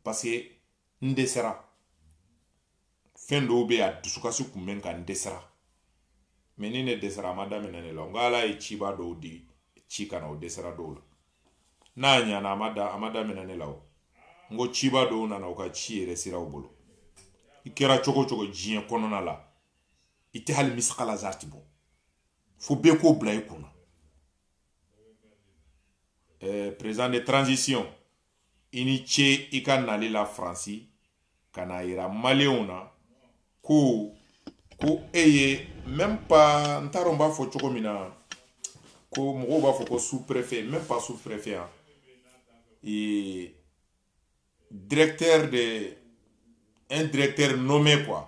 parce que n dɛsɛra fɛn dɔw bɛ a dusukasi kun bɛ ka n dɛsɛra mɛ ni ne dɛsɛra a ma daminɛ ne la n ko ala ye cɛba dɔw de ci ka na o dɛsɛra dɔw la n'a ɲana a ma da a ma daminɛ ne la o n ko cɛba dɔw nana u ka ci yɛrɛ sira u bolo i kɛra cogo cogo diɲɛ kɔnɔna la i tɛ hali misikala zarati bɔ fo bɛɛ k'o bila i kunna eh, président de transition i ni ce i ka nali la faransi ka n'a yira maliyɛnw na ko ko e ye même pas n t'a dɔn n b'a fɔ cogo min na ko mɔgɔw b'a fɔ ko sous préfet même pas sous préfet yan et directeur de un directeur nommé quoi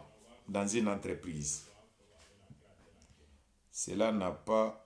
dans une entreprise cela n'a pas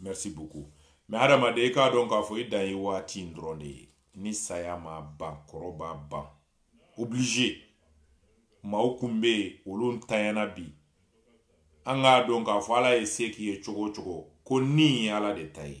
merci beaucoup mɛ adamaden i k'a dɔn k'a fɔ i dan ye waati in dɔrɔn de ye ni saya m'a ban kɔrɔ b'a ban obligé maaw kun bɛ yen olu ntanyana bi an k'a dɔn k'a fɔ ala ye se k'i ye cogo o cogo ko nin ye ala de ta ye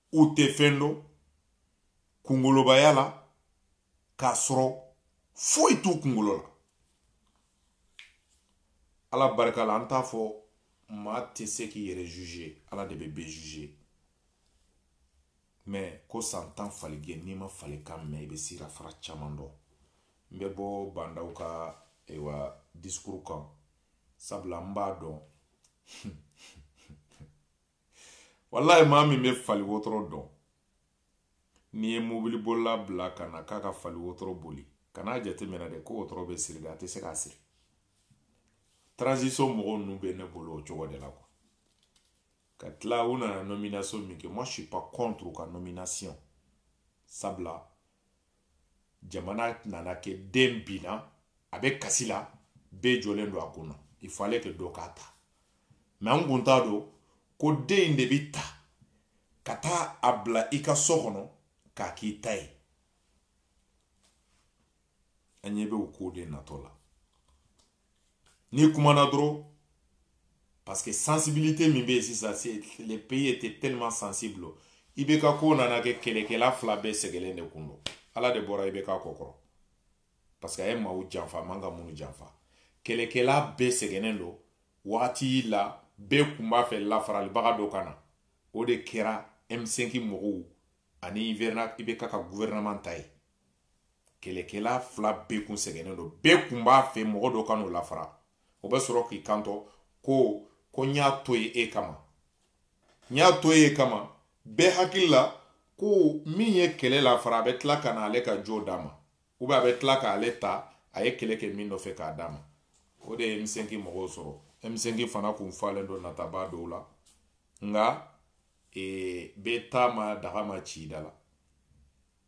u tɛ fɛn dɔn kungolobaya la k'a sɔrɔ foyi t'u kungolo la ala barika la an t'a fɔ maa tɛ se k'i yɛrɛ juger ala de bɛ bɛɛ juger mɛ ko san tan faligɛn n'i ma fali kan mɛn i bɛ sirafara caman dɔn n bɛ bɔ ba ndaw ka ayiwa discours kan sabula n b'a dɔn walayi maa min bɛ fali wotoro dɔn n'i ye mobilibolila bila ka na k'a ka fali wotoro boli kan'a jateminɛ dɛ ko wotoro bɛ siri dɛ a tɛ se k'a siri transition mɔgɔw ninnu bɛ ne bolo o cogo de la kuwa ka tila u nana nomination min kɛ moi je suis pas contre u ka nomination sabula jamana nana kɛ den binna a bɛ kasi la bɛɛ jɔlen don a kunna il fallait que dɔ k'a ta mɛ an kun t'a dɔn ko den in de bi ta ka taa a bila i ka so kɔnɔ k'a k'i ta ye an ɲɛ bɛ o ko de natɔ la n'i kumana dɔrɔn parce que sensibilité min bɛ yen sisan le pays était tellement sensible ibk ko nana kɛ kɛlɛkɛla fila bɛɛ sɛgɛlen de kun don ala de bɔra ibk kɔ kɔrɔ parce que a ye maaw janfa a man ka minnu janfa kɛlɛkɛla bɛɛ sɛgɛnnen don wagati la bɛɛ kun b'a fɛ lafaralibaga dɔ ka na o de kɛra m5 mɔgɔw ani ibk ka gouvernement ta ye kɛlɛkɛla fila bɛɛ kun sɛgɛnnen don bɛɛ kun b'a fɛ mɔgɔ dɔ ka n'u lafara o bɛ sɔrɔ k'i kanto ko ko n y'a to ye e kama n y'a to ye e kama bɛɛ hakili la ko min ye kɛlɛ lafara a bɛ tila ka na ale ka jo d'a ma u bɛ a bɛ tila k'ale ta a ye kɛlɛ kɛ min nɔfɛ k'a d'a ma o de ye m5 mɔgɔw sɔrɔ m5 fana kun falen don nataba dɔw la nka ee, bɛ taama daga ma ci da la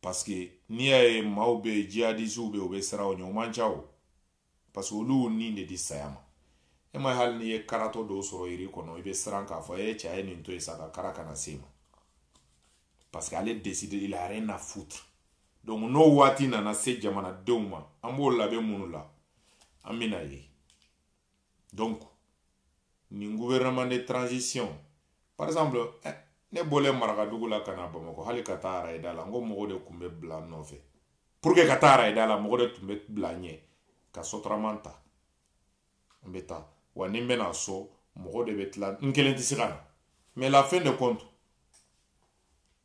parce que n'i y'a ye maaw bɛ yen jihadisiw bɛ yen u bɛ siran o ɲɛ o man ca o parce que olu ni de di saya ma e ma hali n'i ye karatɔ dɔ sɔrɔ yiri kɔnɔ i bɛ siran k'a fɔ e cɛ ye nin to yen sa ka kara kana se ma parce que ale décidé il a rien à foutre donc n'o waati nana se jamanadenw ma an b'o labɛn minnu la an bɛn'a ye donc nin gouvernement de transition par exemple eh, ne bɔlen marakadugu la ka na bamakɔ hali ka taa arayida la n ko mɔgɔ de tun bɛ bila n nɔfɛ pour que ka taa arayida la mɔgɔ de tun bɛ bila n ɲɛ ka sotarama ta n bɛ taa wa ni n bɛna so mɔgɔ de bɛ bila n kelen tɛ se ka na mais la fin de compte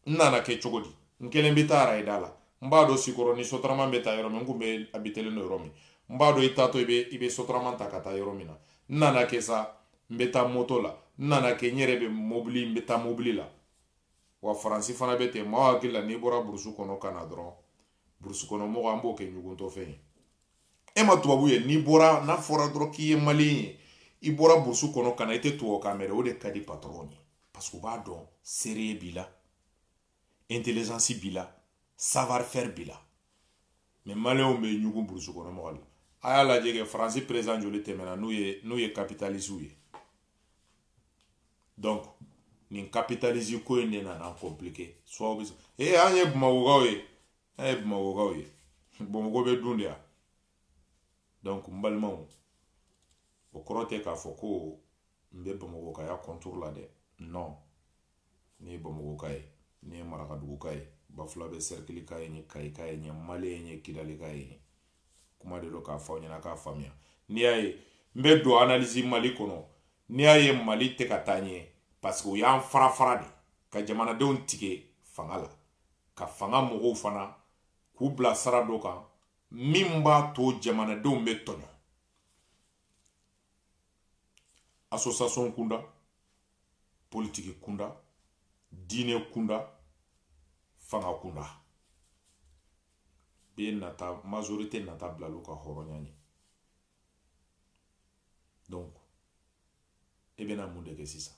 n nana kɛ cogo di n kelen bɛ taa arayida la n b'a dɔn sikɔrɔni sotarama bɛ taa yɔrɔ min n kun bɛ abitelen don yɔrɔ min n b'a dɔn i taatɔ i bɛ i bɛ sotarama ta ka taa yɔrɔ min na n nana kɛ sa n bɛ taa moto la n nana kɛ n yɛrɛ bɛ mobili n bɛ taa mobili la wa faransi fana bɛ ten maaw hakili la n'i bɔra burusu kɔnɔ ka na dɔrɔn burusi kɔnɔ mɔgɔ an b'o kɛ ɲuguntɔ fɛn ye e mais tubabu ye n'i bɔra n'a fɔra dɔrɔn k'i ye maliyɛn ye i bɔra burusi kɔnɔ ka na i tɛ tubabukan mɛn o de ka di patɔrɔn ye parce que u b'a dɔn sérieux b'i la intelligence b'i la savoir faire b'i la mais maliyɛnw bɛ ɲugun burusi kɔnɔ mɔgɔ la a y'a lajɛ kɛ faransi perezidan joli tɛmɛna n'u ye n'u ye kapitalisiw ye donc nin capitaliste ko in de nana compliqué soi-disant eh, an ye bamakɔkaw ye an ye bamakɔkaw ye bamakɔ bɛ dun de yan donc n balimaw o kɔrɔ tɛ k'a fɔ ko n bɛ bamakɔkaya contre la dɛ non n'i ye bamakɔka ye n'i ye marakaduguka ye bafulabɛ sɛrikilika ye n'i ye kayika ye n'i ye mali ye n'i ye kidalika ye ɲɛ kuma de don k'a fɔ aw ɲɛna k'a faamuya n'i y'a ye n bɛ don analizi mali kɔnɔ n'i y'a ye mali tɛ ka taa ɲɛ parce que u y'an farafara de ka jamanadenw tige fanga la ka fanga mɔgɔw fana k'u bila sira dɔ kan min b'a to jamanadenw bɛ tɔɲɔ association kunda politiki kunda diinɛ kunda fanga kunda bɛɛ nata majorité nata bilal'u ka hɔrɔnya ɲɛ donc e bɛna mun de kɛ sisan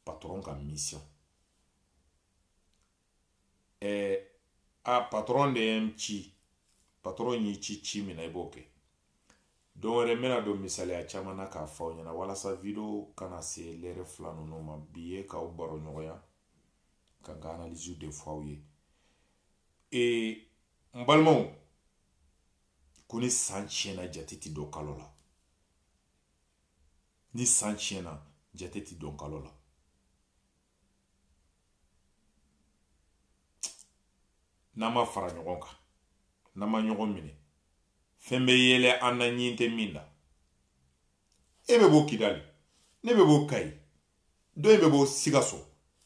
patron ka mission ɛɛ eh, a patɔrɔn de ye n ci patɔrɔn y'i ci ci min na i b'o kɛ don wɛrɛ n bɛna don misaliya caman na k'a fɔ aw ɲɛna walasa video kana se lɛrɛ fila ninnu ma bi ye k'aw baroɲɔgɔnya ka n ka analisiw de fɔ aw ye ee n balimaw ko ni san tiɲɛna jate ti don kalo la ni san tiɲɛna jate ti don kalo la n'an ma fara ɲɔgɔn kan n'an ma ɲɔgɔn minɛ fɛn bɛ yɛlɛ an na ɲin tɛ min na e bɛ bɔ kidali ne bɛ bɔ kayi dɔ in bɛ bɔ sikaso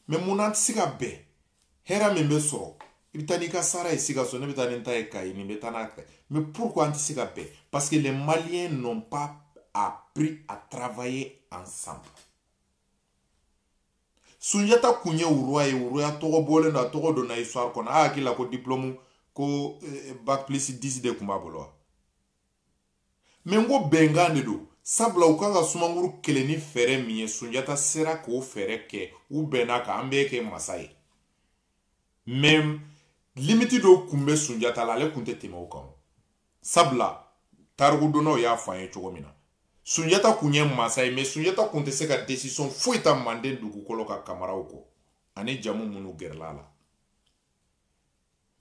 mɛ mun na an tɛ se ka bɛn hɛrɛ min bɛ sɔrɔ i bɛ taa n'i ka sara ye sikaso ne bɛ taa ni n ta ye kayi nin bɛ taa n'a kayi mɛ pourquoi an tɛ se ka bɛn parce que les maliens n'ont pas appris à travailler ensemble sunjata kun ye roi ye roi tɔgɔ bɔlen don a tɔgɔ donna histoire kɔnɔ a hakili la ko diplɔmu ko eh, bac plus 10 de kun b'a bolo wa mɛ n ko bɛnkan de don sabula u kan ka sumanguru kɛlɛ ni fɛɛrɛ min ye sunjata sera k'o fɛɛrɛ kɛ u bɛnna k'an b'e kɛ masa ye mɛ limiti dɔw kun bɛ sunjata la ale kun tɛ tɛmɛ o kan sabula tarikudɔnnaw y'a fɔ an ye cogo min na sunjata kun ye mansa ye mɛ sunjata kun tɛ se ka desisɔn foyi ta manden dugukolo kan kamaraw kɔ ani jamu minnu gɛrɛla a la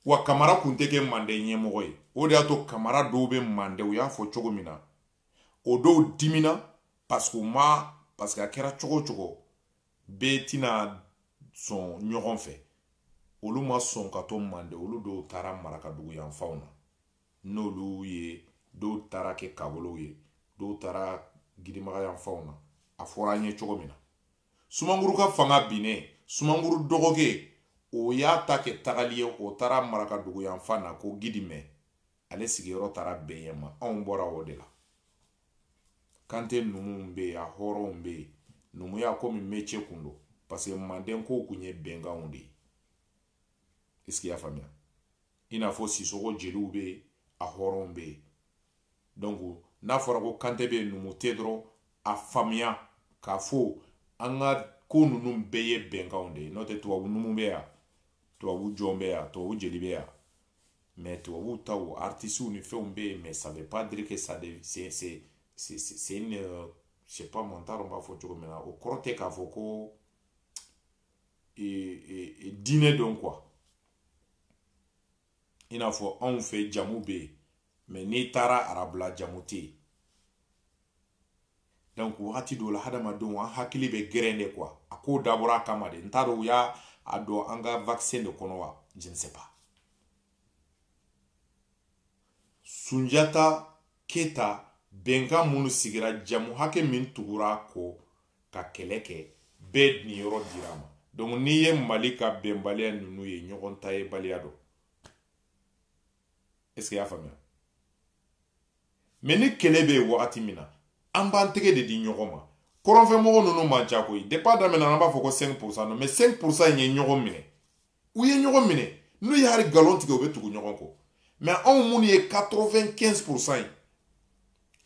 wa kamara kun tɛ kɛ manden ɲɛmɔgɔ ye o de y'a to kamara dɔw bɛ manden u y'a fɔ cogo min na o dɔw dimina paseke u ma paseke a kɛra cogo o cogo bɛɛ tɛna sɔn ɲɔgɔn fɛ olu ma sɔn ka to manden olu dɔw taara marakadugu yanfanw na n'olu ye dɔw taara kɛ kakɔlɔw ye dɔw taara gidimaga yanfanw na a fɔra an ye cogo min na sumanguru ka fanga binnen sumanguru dɔgɔkɛ o y'a ta kɛ tagali ye o taara marakadugu yanfan na ko gidimɛ ale sigiyɔrɔ taara bɛn yen ma anw bɔra o de la kante numuw bɛ yen a hɔrɔnw bɛ yen numuya komi mece kun don parce que manden kow kun ye bɛnkanw de ye est ce que y'a faamuya i n'a fɔ sisɔgɔ jeliw bɛ yen a hɔrɔnw bɛ yen donc n'a fɔra ko kante bɛ yen numu tɛ dɔrɔn a faamuya k'a fɔ an ka ko ninnu bɛɛ ye bɛnkanw de ye n'o tɛ tubabu numu bɛ yan tubabu jɔn bɛ yan tubabu jeli bɛ yan mais tubabu taw artisiw ni fɛnw bɛ yen mais ça veut pas dire que ça de c'est c'est c'est c'est une euh, je sais pas moi n t'a dɔn n b'a fɔ cogo min na o kɔrɔ tɛ k'a fɔ ko diinɛ don quoi i n'a fɔ anw fɛ jamu bɛ yen mɛ n'i taara arabula jamu tɛ yen donc wagati dɔw la hadamadenw an hakili bɛ gɛrɛn de quoi a ko dabɔra a kama de n t'a dɔn u y'a don an ka vaccin de kɔnɔ wa je ne sais pas sunjata keyita bɛnkan minnu sigira jamu hakɛ min tugura kɔ ka kɛlɛ kɛ bɛɛ niyɔrɔ dir'a ma donc n'i ye mali ka bɛnbaliya ninnu ye ɲɔgɔn ta yebaliya don est ce que y'a faamuya mɛ ni kɛlɛ bɛ yen wagati min na an b'an tɛgɛ de di ɲɔgɔn ma kɔrɔnfɛmɔgɔ ninnu man ca koyi depi a daminɛna an b'a fɔ ko 5 pourcent don mɛ 5 pourcent in ye ɲɔgɔn minɛ u ye ɲɔgɔn minɛ n'u ye hali galon tigɛ u bɛ tugu ɲɔgɔn kɔ mɛ anw minnu ye 95 pourcent ye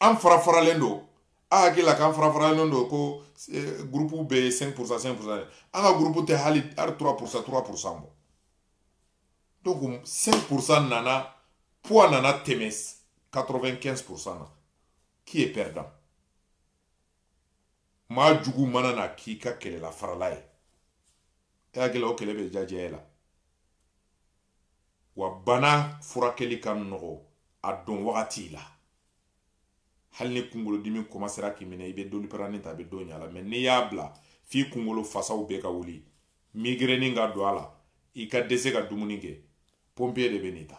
an farafaralen don a hakili la k'an farafaralen don ko eh, gurupuw bɛɛ ye 5 pourcent 5 pourcent an ka gurupu tɛ hali hali 3 pourcent 3 pourcent bɔ donc 5 pourcent nana poids nana tɛmɛ 95 pourcent na qui est perdant maa jugu mana na k'i ka kɛlɛlaw faralen ye e hakili la o kɛlɛ bɛ diya e la wa bana furakɛli ka nɔgɔ a don wagati la hali ni kunkolodimi kɔmasera k'i minɛ i bɛ doliparani ta a bɛ dɔgɔya i la mɛ n'i y'a bila f'i kunkolo fasaw bɛɛ ka wuli migrɛni ka don a la i ka dɛsɛ ka dumuni kɛ pɔnpiye de bɛ n'i ta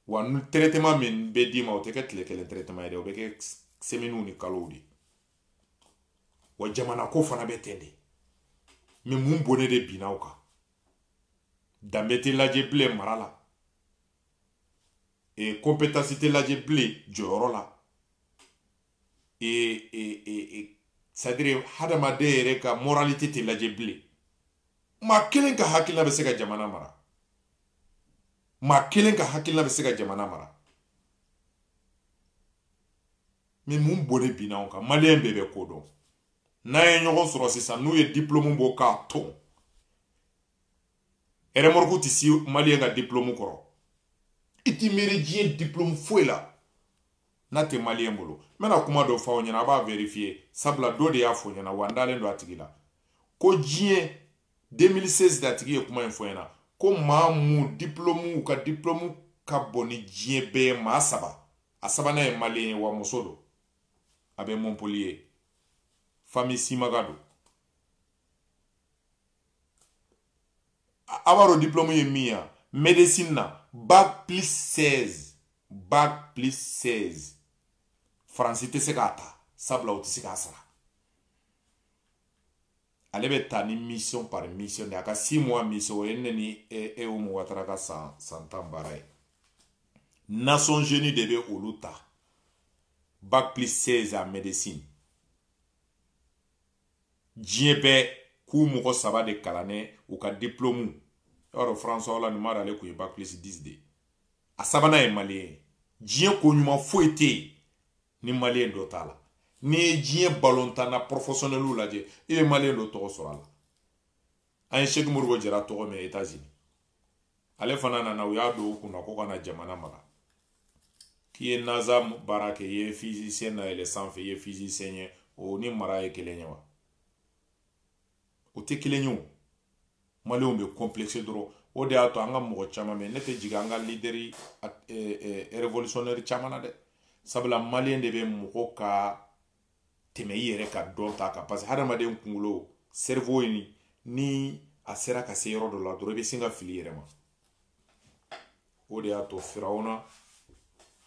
wa ni traitement min bɛ d'i ma o tɛ kɛ tile kelen traitement ye dɛ o bɛ kɛ semɛniw ni kalow de wa jamana ko fana bɛ ten de mɛ mun bɔnɛ de binna anw kan danbe tɛ lajɛ bilen mara la e compétence tɛ lajɛ bilen jɔyɔrɔ la e e e e c'est à dire hadamaden yɛrɛ ka moralité tɛ lajɛ bilen maa kelen ka hakilina bɛ se ka jamana mara maa kelen ka hakilina bɛ se ka jamana mara mɛ mun bɔnɛ binna an kan maliyɛn bɛɛ bɛ ko dɔn n'an ye ɲɔgɔn sɔrɔ sisan n'u ye diplɔmu bɔ k'a ton ɛrɛmɔrɔku tɛ se maliyɛn ka diplɔmu kɔrɔ i t'i miiri diɲɛ diplɔmu foyi la n'a tɛ maliyɛn bolo n bɛna kuma dɔ fɔ aw ɲɛna a b'a vɛrifiye sabula dɔ de y'a fɔ n ɲɛna wa n dalen don a tigi la ko diɲɛ 2016 de a tigi ye kuma in fɔ n ɲɛna ko maa min diplomuw ka diplomu ka bon ni diɲɛ bɛɛ ye maa saba a sabanan ye maliyen ye wa muso don a bɛ montpellier fami simaga don a b'a dɔn diplomu ye min ye médecine na bac plus 16 bac plus 16 faransi tɛ se k'a ta sabula u tɛ se k'a sara ale bɛ ta ni mission par mission de a ka six mois mission o ye ne ni e e o mɔgɔ taara ka san san tan baara ye nations unies de bɛ olu ta bac plus seize en médecine diɲɛ bɛɛ k'u mɔgɔ saba de kalannen u ka diplôme i b'a dɔn françois hollande m'a dɔn ale tun ye bac plus dix de ye a sabanan ye maliyɛn ye diɲɛ ko ɲuman foyi tɛ yen ni maliyɛn dɔ t'a la n'i ye diɲɛ balontanna pɔrɔfɔsɔnɛliw lajɛ i bɛ maliyɛn dɔ tɔgɔ sɔrɔ a la an ye seki modibo jara tɔgɔ mɛn etazini ale fana nana u y'a don u kunna ko ka na jamana mara k'i ye naza baara kɛ i ye fize layɛlɛ sanfɛ i ye fizisiyɛn ye o ni mara ye kelen ye wa o tɛ kelen ye o maliyɛnw bɛ complexe dɔrɔn o de y'a to an ka mɔgɔ caman mɛ ne tɛ jigin an ka lideri revolutionnɛri caman na dɛ sabula maliyɛn de bɛ mɔgɔ ka tɛmɛ i yɛrɛ ka dɔnta kan parce que hadamaden kunkolo cerveau in ni a sera ka se yɔrɔ dɔ la dɔrɔn i bɛ sin ka fili i yɛrɛ ma o de y'a to firawuna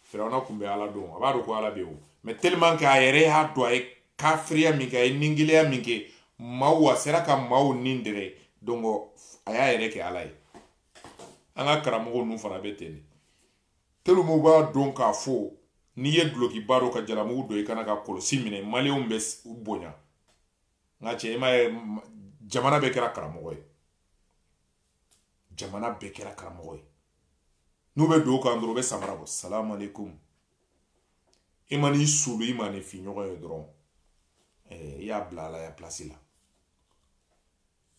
firawuna kun bɛ ala dɔn a b'a dɔn ko ala bɛ yen o mɛ tellement que a yɛrɛ y'a dɔn a ye kafiriya min kɛ a ye ningɛlɛya min kɛ maaw la a sera ka maaw ni dɛrɛ dɔnkɔ a y'a yɛrɛ kɛ ala ye an ka karamɔgɔ ninnu fana bɛ ten de tellement u b'a dɔn k'a fɔ n'i ye dulokiba don ka jalamugu don i kan na ka kɔlɔsi minɛ maliyɛnw b'i bonya n ka cɛ i m'a ye jamana bɛɛ kɛra karamɔgɔ ye jamana bɛɛ kɛra karamɔgɔ ye n'u bɛ don kan dɔrɔn u bɛ samara bɔ salamu aleykum i man'i suuli i ma ni fi ɲɔgɔn ye dɔrɔn eh, i y'a bila alaya pilasi la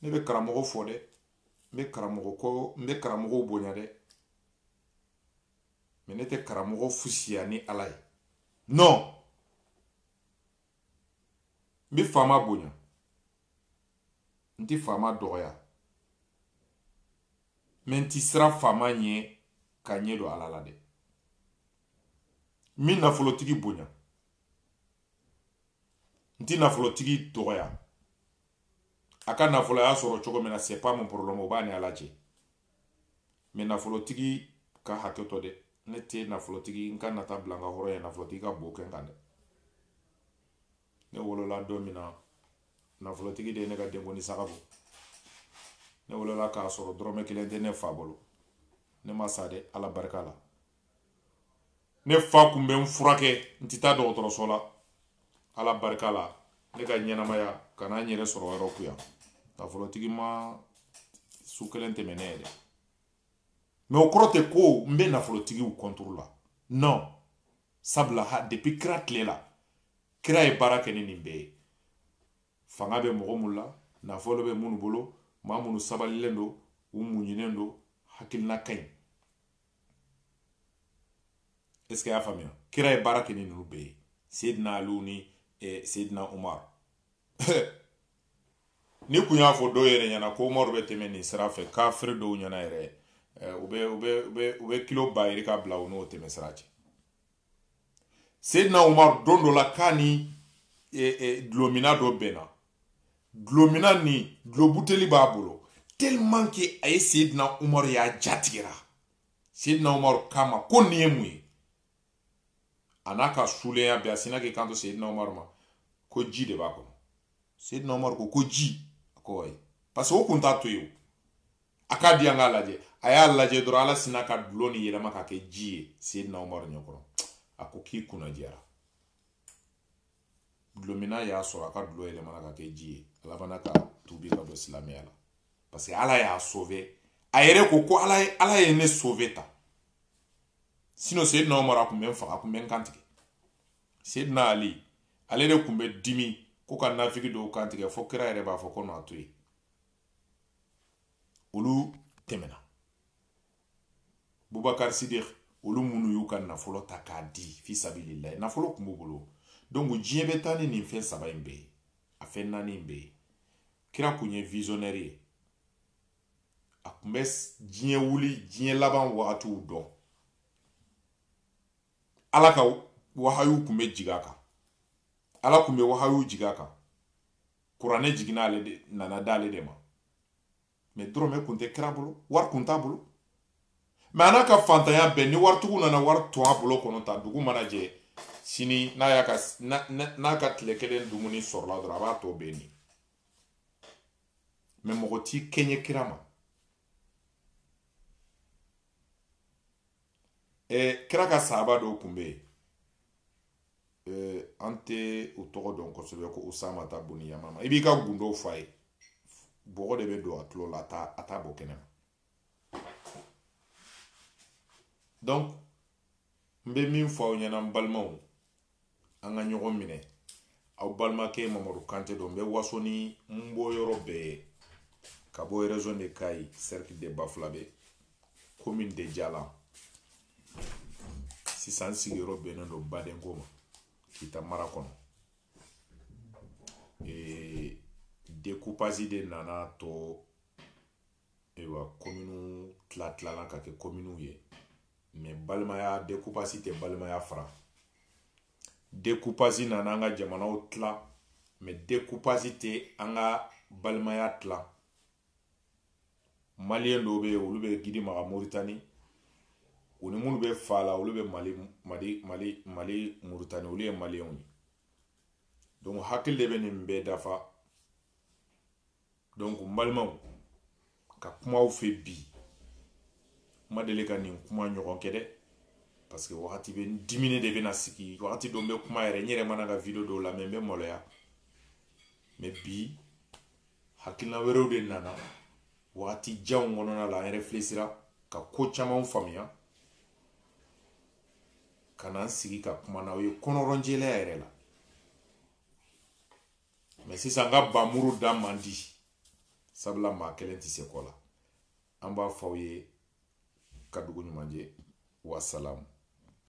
ne bɛ karamɔgɔ fɛ dɛ n bɛ karamɔgɔ kɔ n bɛ karamɔgɔw bonya dɛ mɛ ne tɛ karamɔgɔ fisaya ni ala ye non n bɛ faama bonya n tɛ faama dɔgɔya mɛ n tɛ siran faama ɲɛ ka ɲɛ don ala la dɛ n bɛ nafolotigi bonya n tɛ nafolotigi dɔgɔya a ka nafolo a y'a sɔrɔ cogo min na c'est pas mon problème o b'a ni ala cɛ mɛ nafolotigi ka hakɛ to dɛ ne tɛ nafolotigi n ka nata bila n ka hɔrɔnya ɲɛ nafolotigi ka bo kɛ n kan dɛ ne wolola don min na nafolotigi de ye ne ka denkundi saga bɔ ne wolola k'a sɔrɔ dɔrɔmɛ kelen tɛ ne fa bolo ne ma sa dɛ ala barika la ne fa kun bɛ n furakɛ n tɛ taa dɔgɔtɔrɔso la ala barika la ne ka ɲɛnamaya ka na n yɛrɛ sɔrɔ yɔrɔ ko yan nafolotigi ma su kelen tɛmɛ ne yɛrɛ mɛ o kɔrɔ tɛ ko n bɛ nafolotigiw contre la non sabula ha depuis kira tile la kira ye baara kɛ ni nin bɛɛ ye fanga bɛ mɔgɔ minnu la nafolo bɛ minnu bolo maa minnu sabalilen don u muɲunen don hakilina ka ɲi est-ce que i y'a faamuya kira ye baara kɛ ni ninnu bɛɛ ye seydina aliw ni eh, seydina umar ne kun y'a fɔ dɔw yɛrɛ ɲɛna ko umaru bɛ tɛmɛ nin sira fɛ kafiri dɔw ɲɛna yɛrɛ eh, u bɛ u bɛ u bɛ u bɛ kilo ba yirika bila u n'o tɛmɛsira cɛ seydina umar don dɔ la k'a ni e, e, dulɔminna dɔ bɛnna dulɔminna nin dulɔbuteli b'a bolo tellement que a ye seydina umar y'a ja tigɛra seydina umar k'a ma ko nin ye mun ye a n'a ka sulenya bɛɛ a sina k'i kanto seydina umar ma ko ji de b'a kɔnɔ seydina umar ko ko ji a ko ayi parce que o kun t'a to yen o a k'a di an k'a lajɛ a y'a lajɛ dɔrɔn ala sina ka dulɔ nin yɛlɛma ka kɛ ji ye seydina umar ɲɛkɔrɔ a ko k'i kunna diyara dulɔminna y'a sɔrɔ a ka dulɔ yɛlɛmana ka kɛ ji ye ale fana ka tubi ka don silamɛya la parce que ala y'a sauver a yɛrɛ ko ko ala ye ala ye ne sauver tan sinon seydina umar a kun bɛ n faga a kun bɛ n kan tigɛ Seydina Ali ale de tun bɛ dimi ko ka nafigi dɔw kan tigɛ fo kira yɛrɛ b'a fɔ ko n'a to yen olu tɛmɛna bubakari sidik olu minnu y'u ka nafolo ta k'a di fi sabililayi nafolo tun b'u bolo donc diɲɛ bɛ taa ni nin fɛn saba in bɛɛ ye a fɛn naani in bɛɛ ye kira kun ye visionnaire ye a tun bɛ diɲɛ wuli diɲɛ laban wagatiw dɔn ala ka wahayu tun bɛ jigin a kan ala tun bɛ wahayu jigin a kan kuranɛ jiginna ale de nana d'ale de ma mɛ dɔrɔmɛ kun tɛ kira bolo wari kun t'a bolo mɛ a n'a ka faantanya bɛɛ ni waritigiw nana wari ton a bolo kɔnɔ tan dugu mana jɛ sini n'a y'a ka n'a ka tile kelen dumuni sɔrɔla dɔrɔn a b'a tɔ bɛɛ ni mɛ mɔgɔ t'i kɛɲɛ kira ma eh, kira ka sahaba dɔw kun bɛ yen eh, an tɛ u tɔgɔ dɔn kosɛbɛ ko usamata buni yamama i b'i ka gundow f'a ye bɔgɔ de bɛ don a tulo la a t'a a t'a bɔ kɛnɛ ma donc n bɛ min fɔ aw ɲɛna n balimaw an ka ɲɔgɔn minɛ aw balimakɛ mamadu kante don n bɛ waso ni n bɔ yɔrɔ bɛɛ ye ka bɔ région de kayi cercle de bafulabe commune de jalan sisan n sigiyɔrɔ bɛnnen don badinko ma kita mara kɔnɔ ee dekupasi de nana to ayiwa kominiw tila tilala ka kɛ kominiw ye mɛ balimaya dekupasi tɛ balimaya fara dekupasi nana an ka jamanaw tila mɛ dekupasi tɛ an ka balimaya tila maliyɛn dɔw bɛ yen olu bɛ gidimaka moritani u ni minnu bɛ fa la olu bɛ mali mali mali mali moritani olu ye maliyɛnw ye donc hakili de bɛ nin bɛɛ dafa donc n balimaw ka kuma aw fɛ bi n ma deli ka nin kuma ɲɔgɔn kɛ dɛ parce que wagati bɛɛ n diminen de bɛna sigi wagati dɔ n bɛ kuma yɛrɛ n yɛrɛ mana n ka video dɔw lamɛn n bɛ maloya mais bi hakilina wɛrɛw de nana wagati janw kɔnɔna la n ye réfléchir ka ko camanw faamuya ka na n sigi ka kuma n'aw ye kɔnɔrɔnjɛlɛya yɛrɛ la mais sisan n ka bamuru da man di sabula maa kelen tɛ se ko la an b'a fɔ aw ye ka dugu ɲuman jɛ wasalamu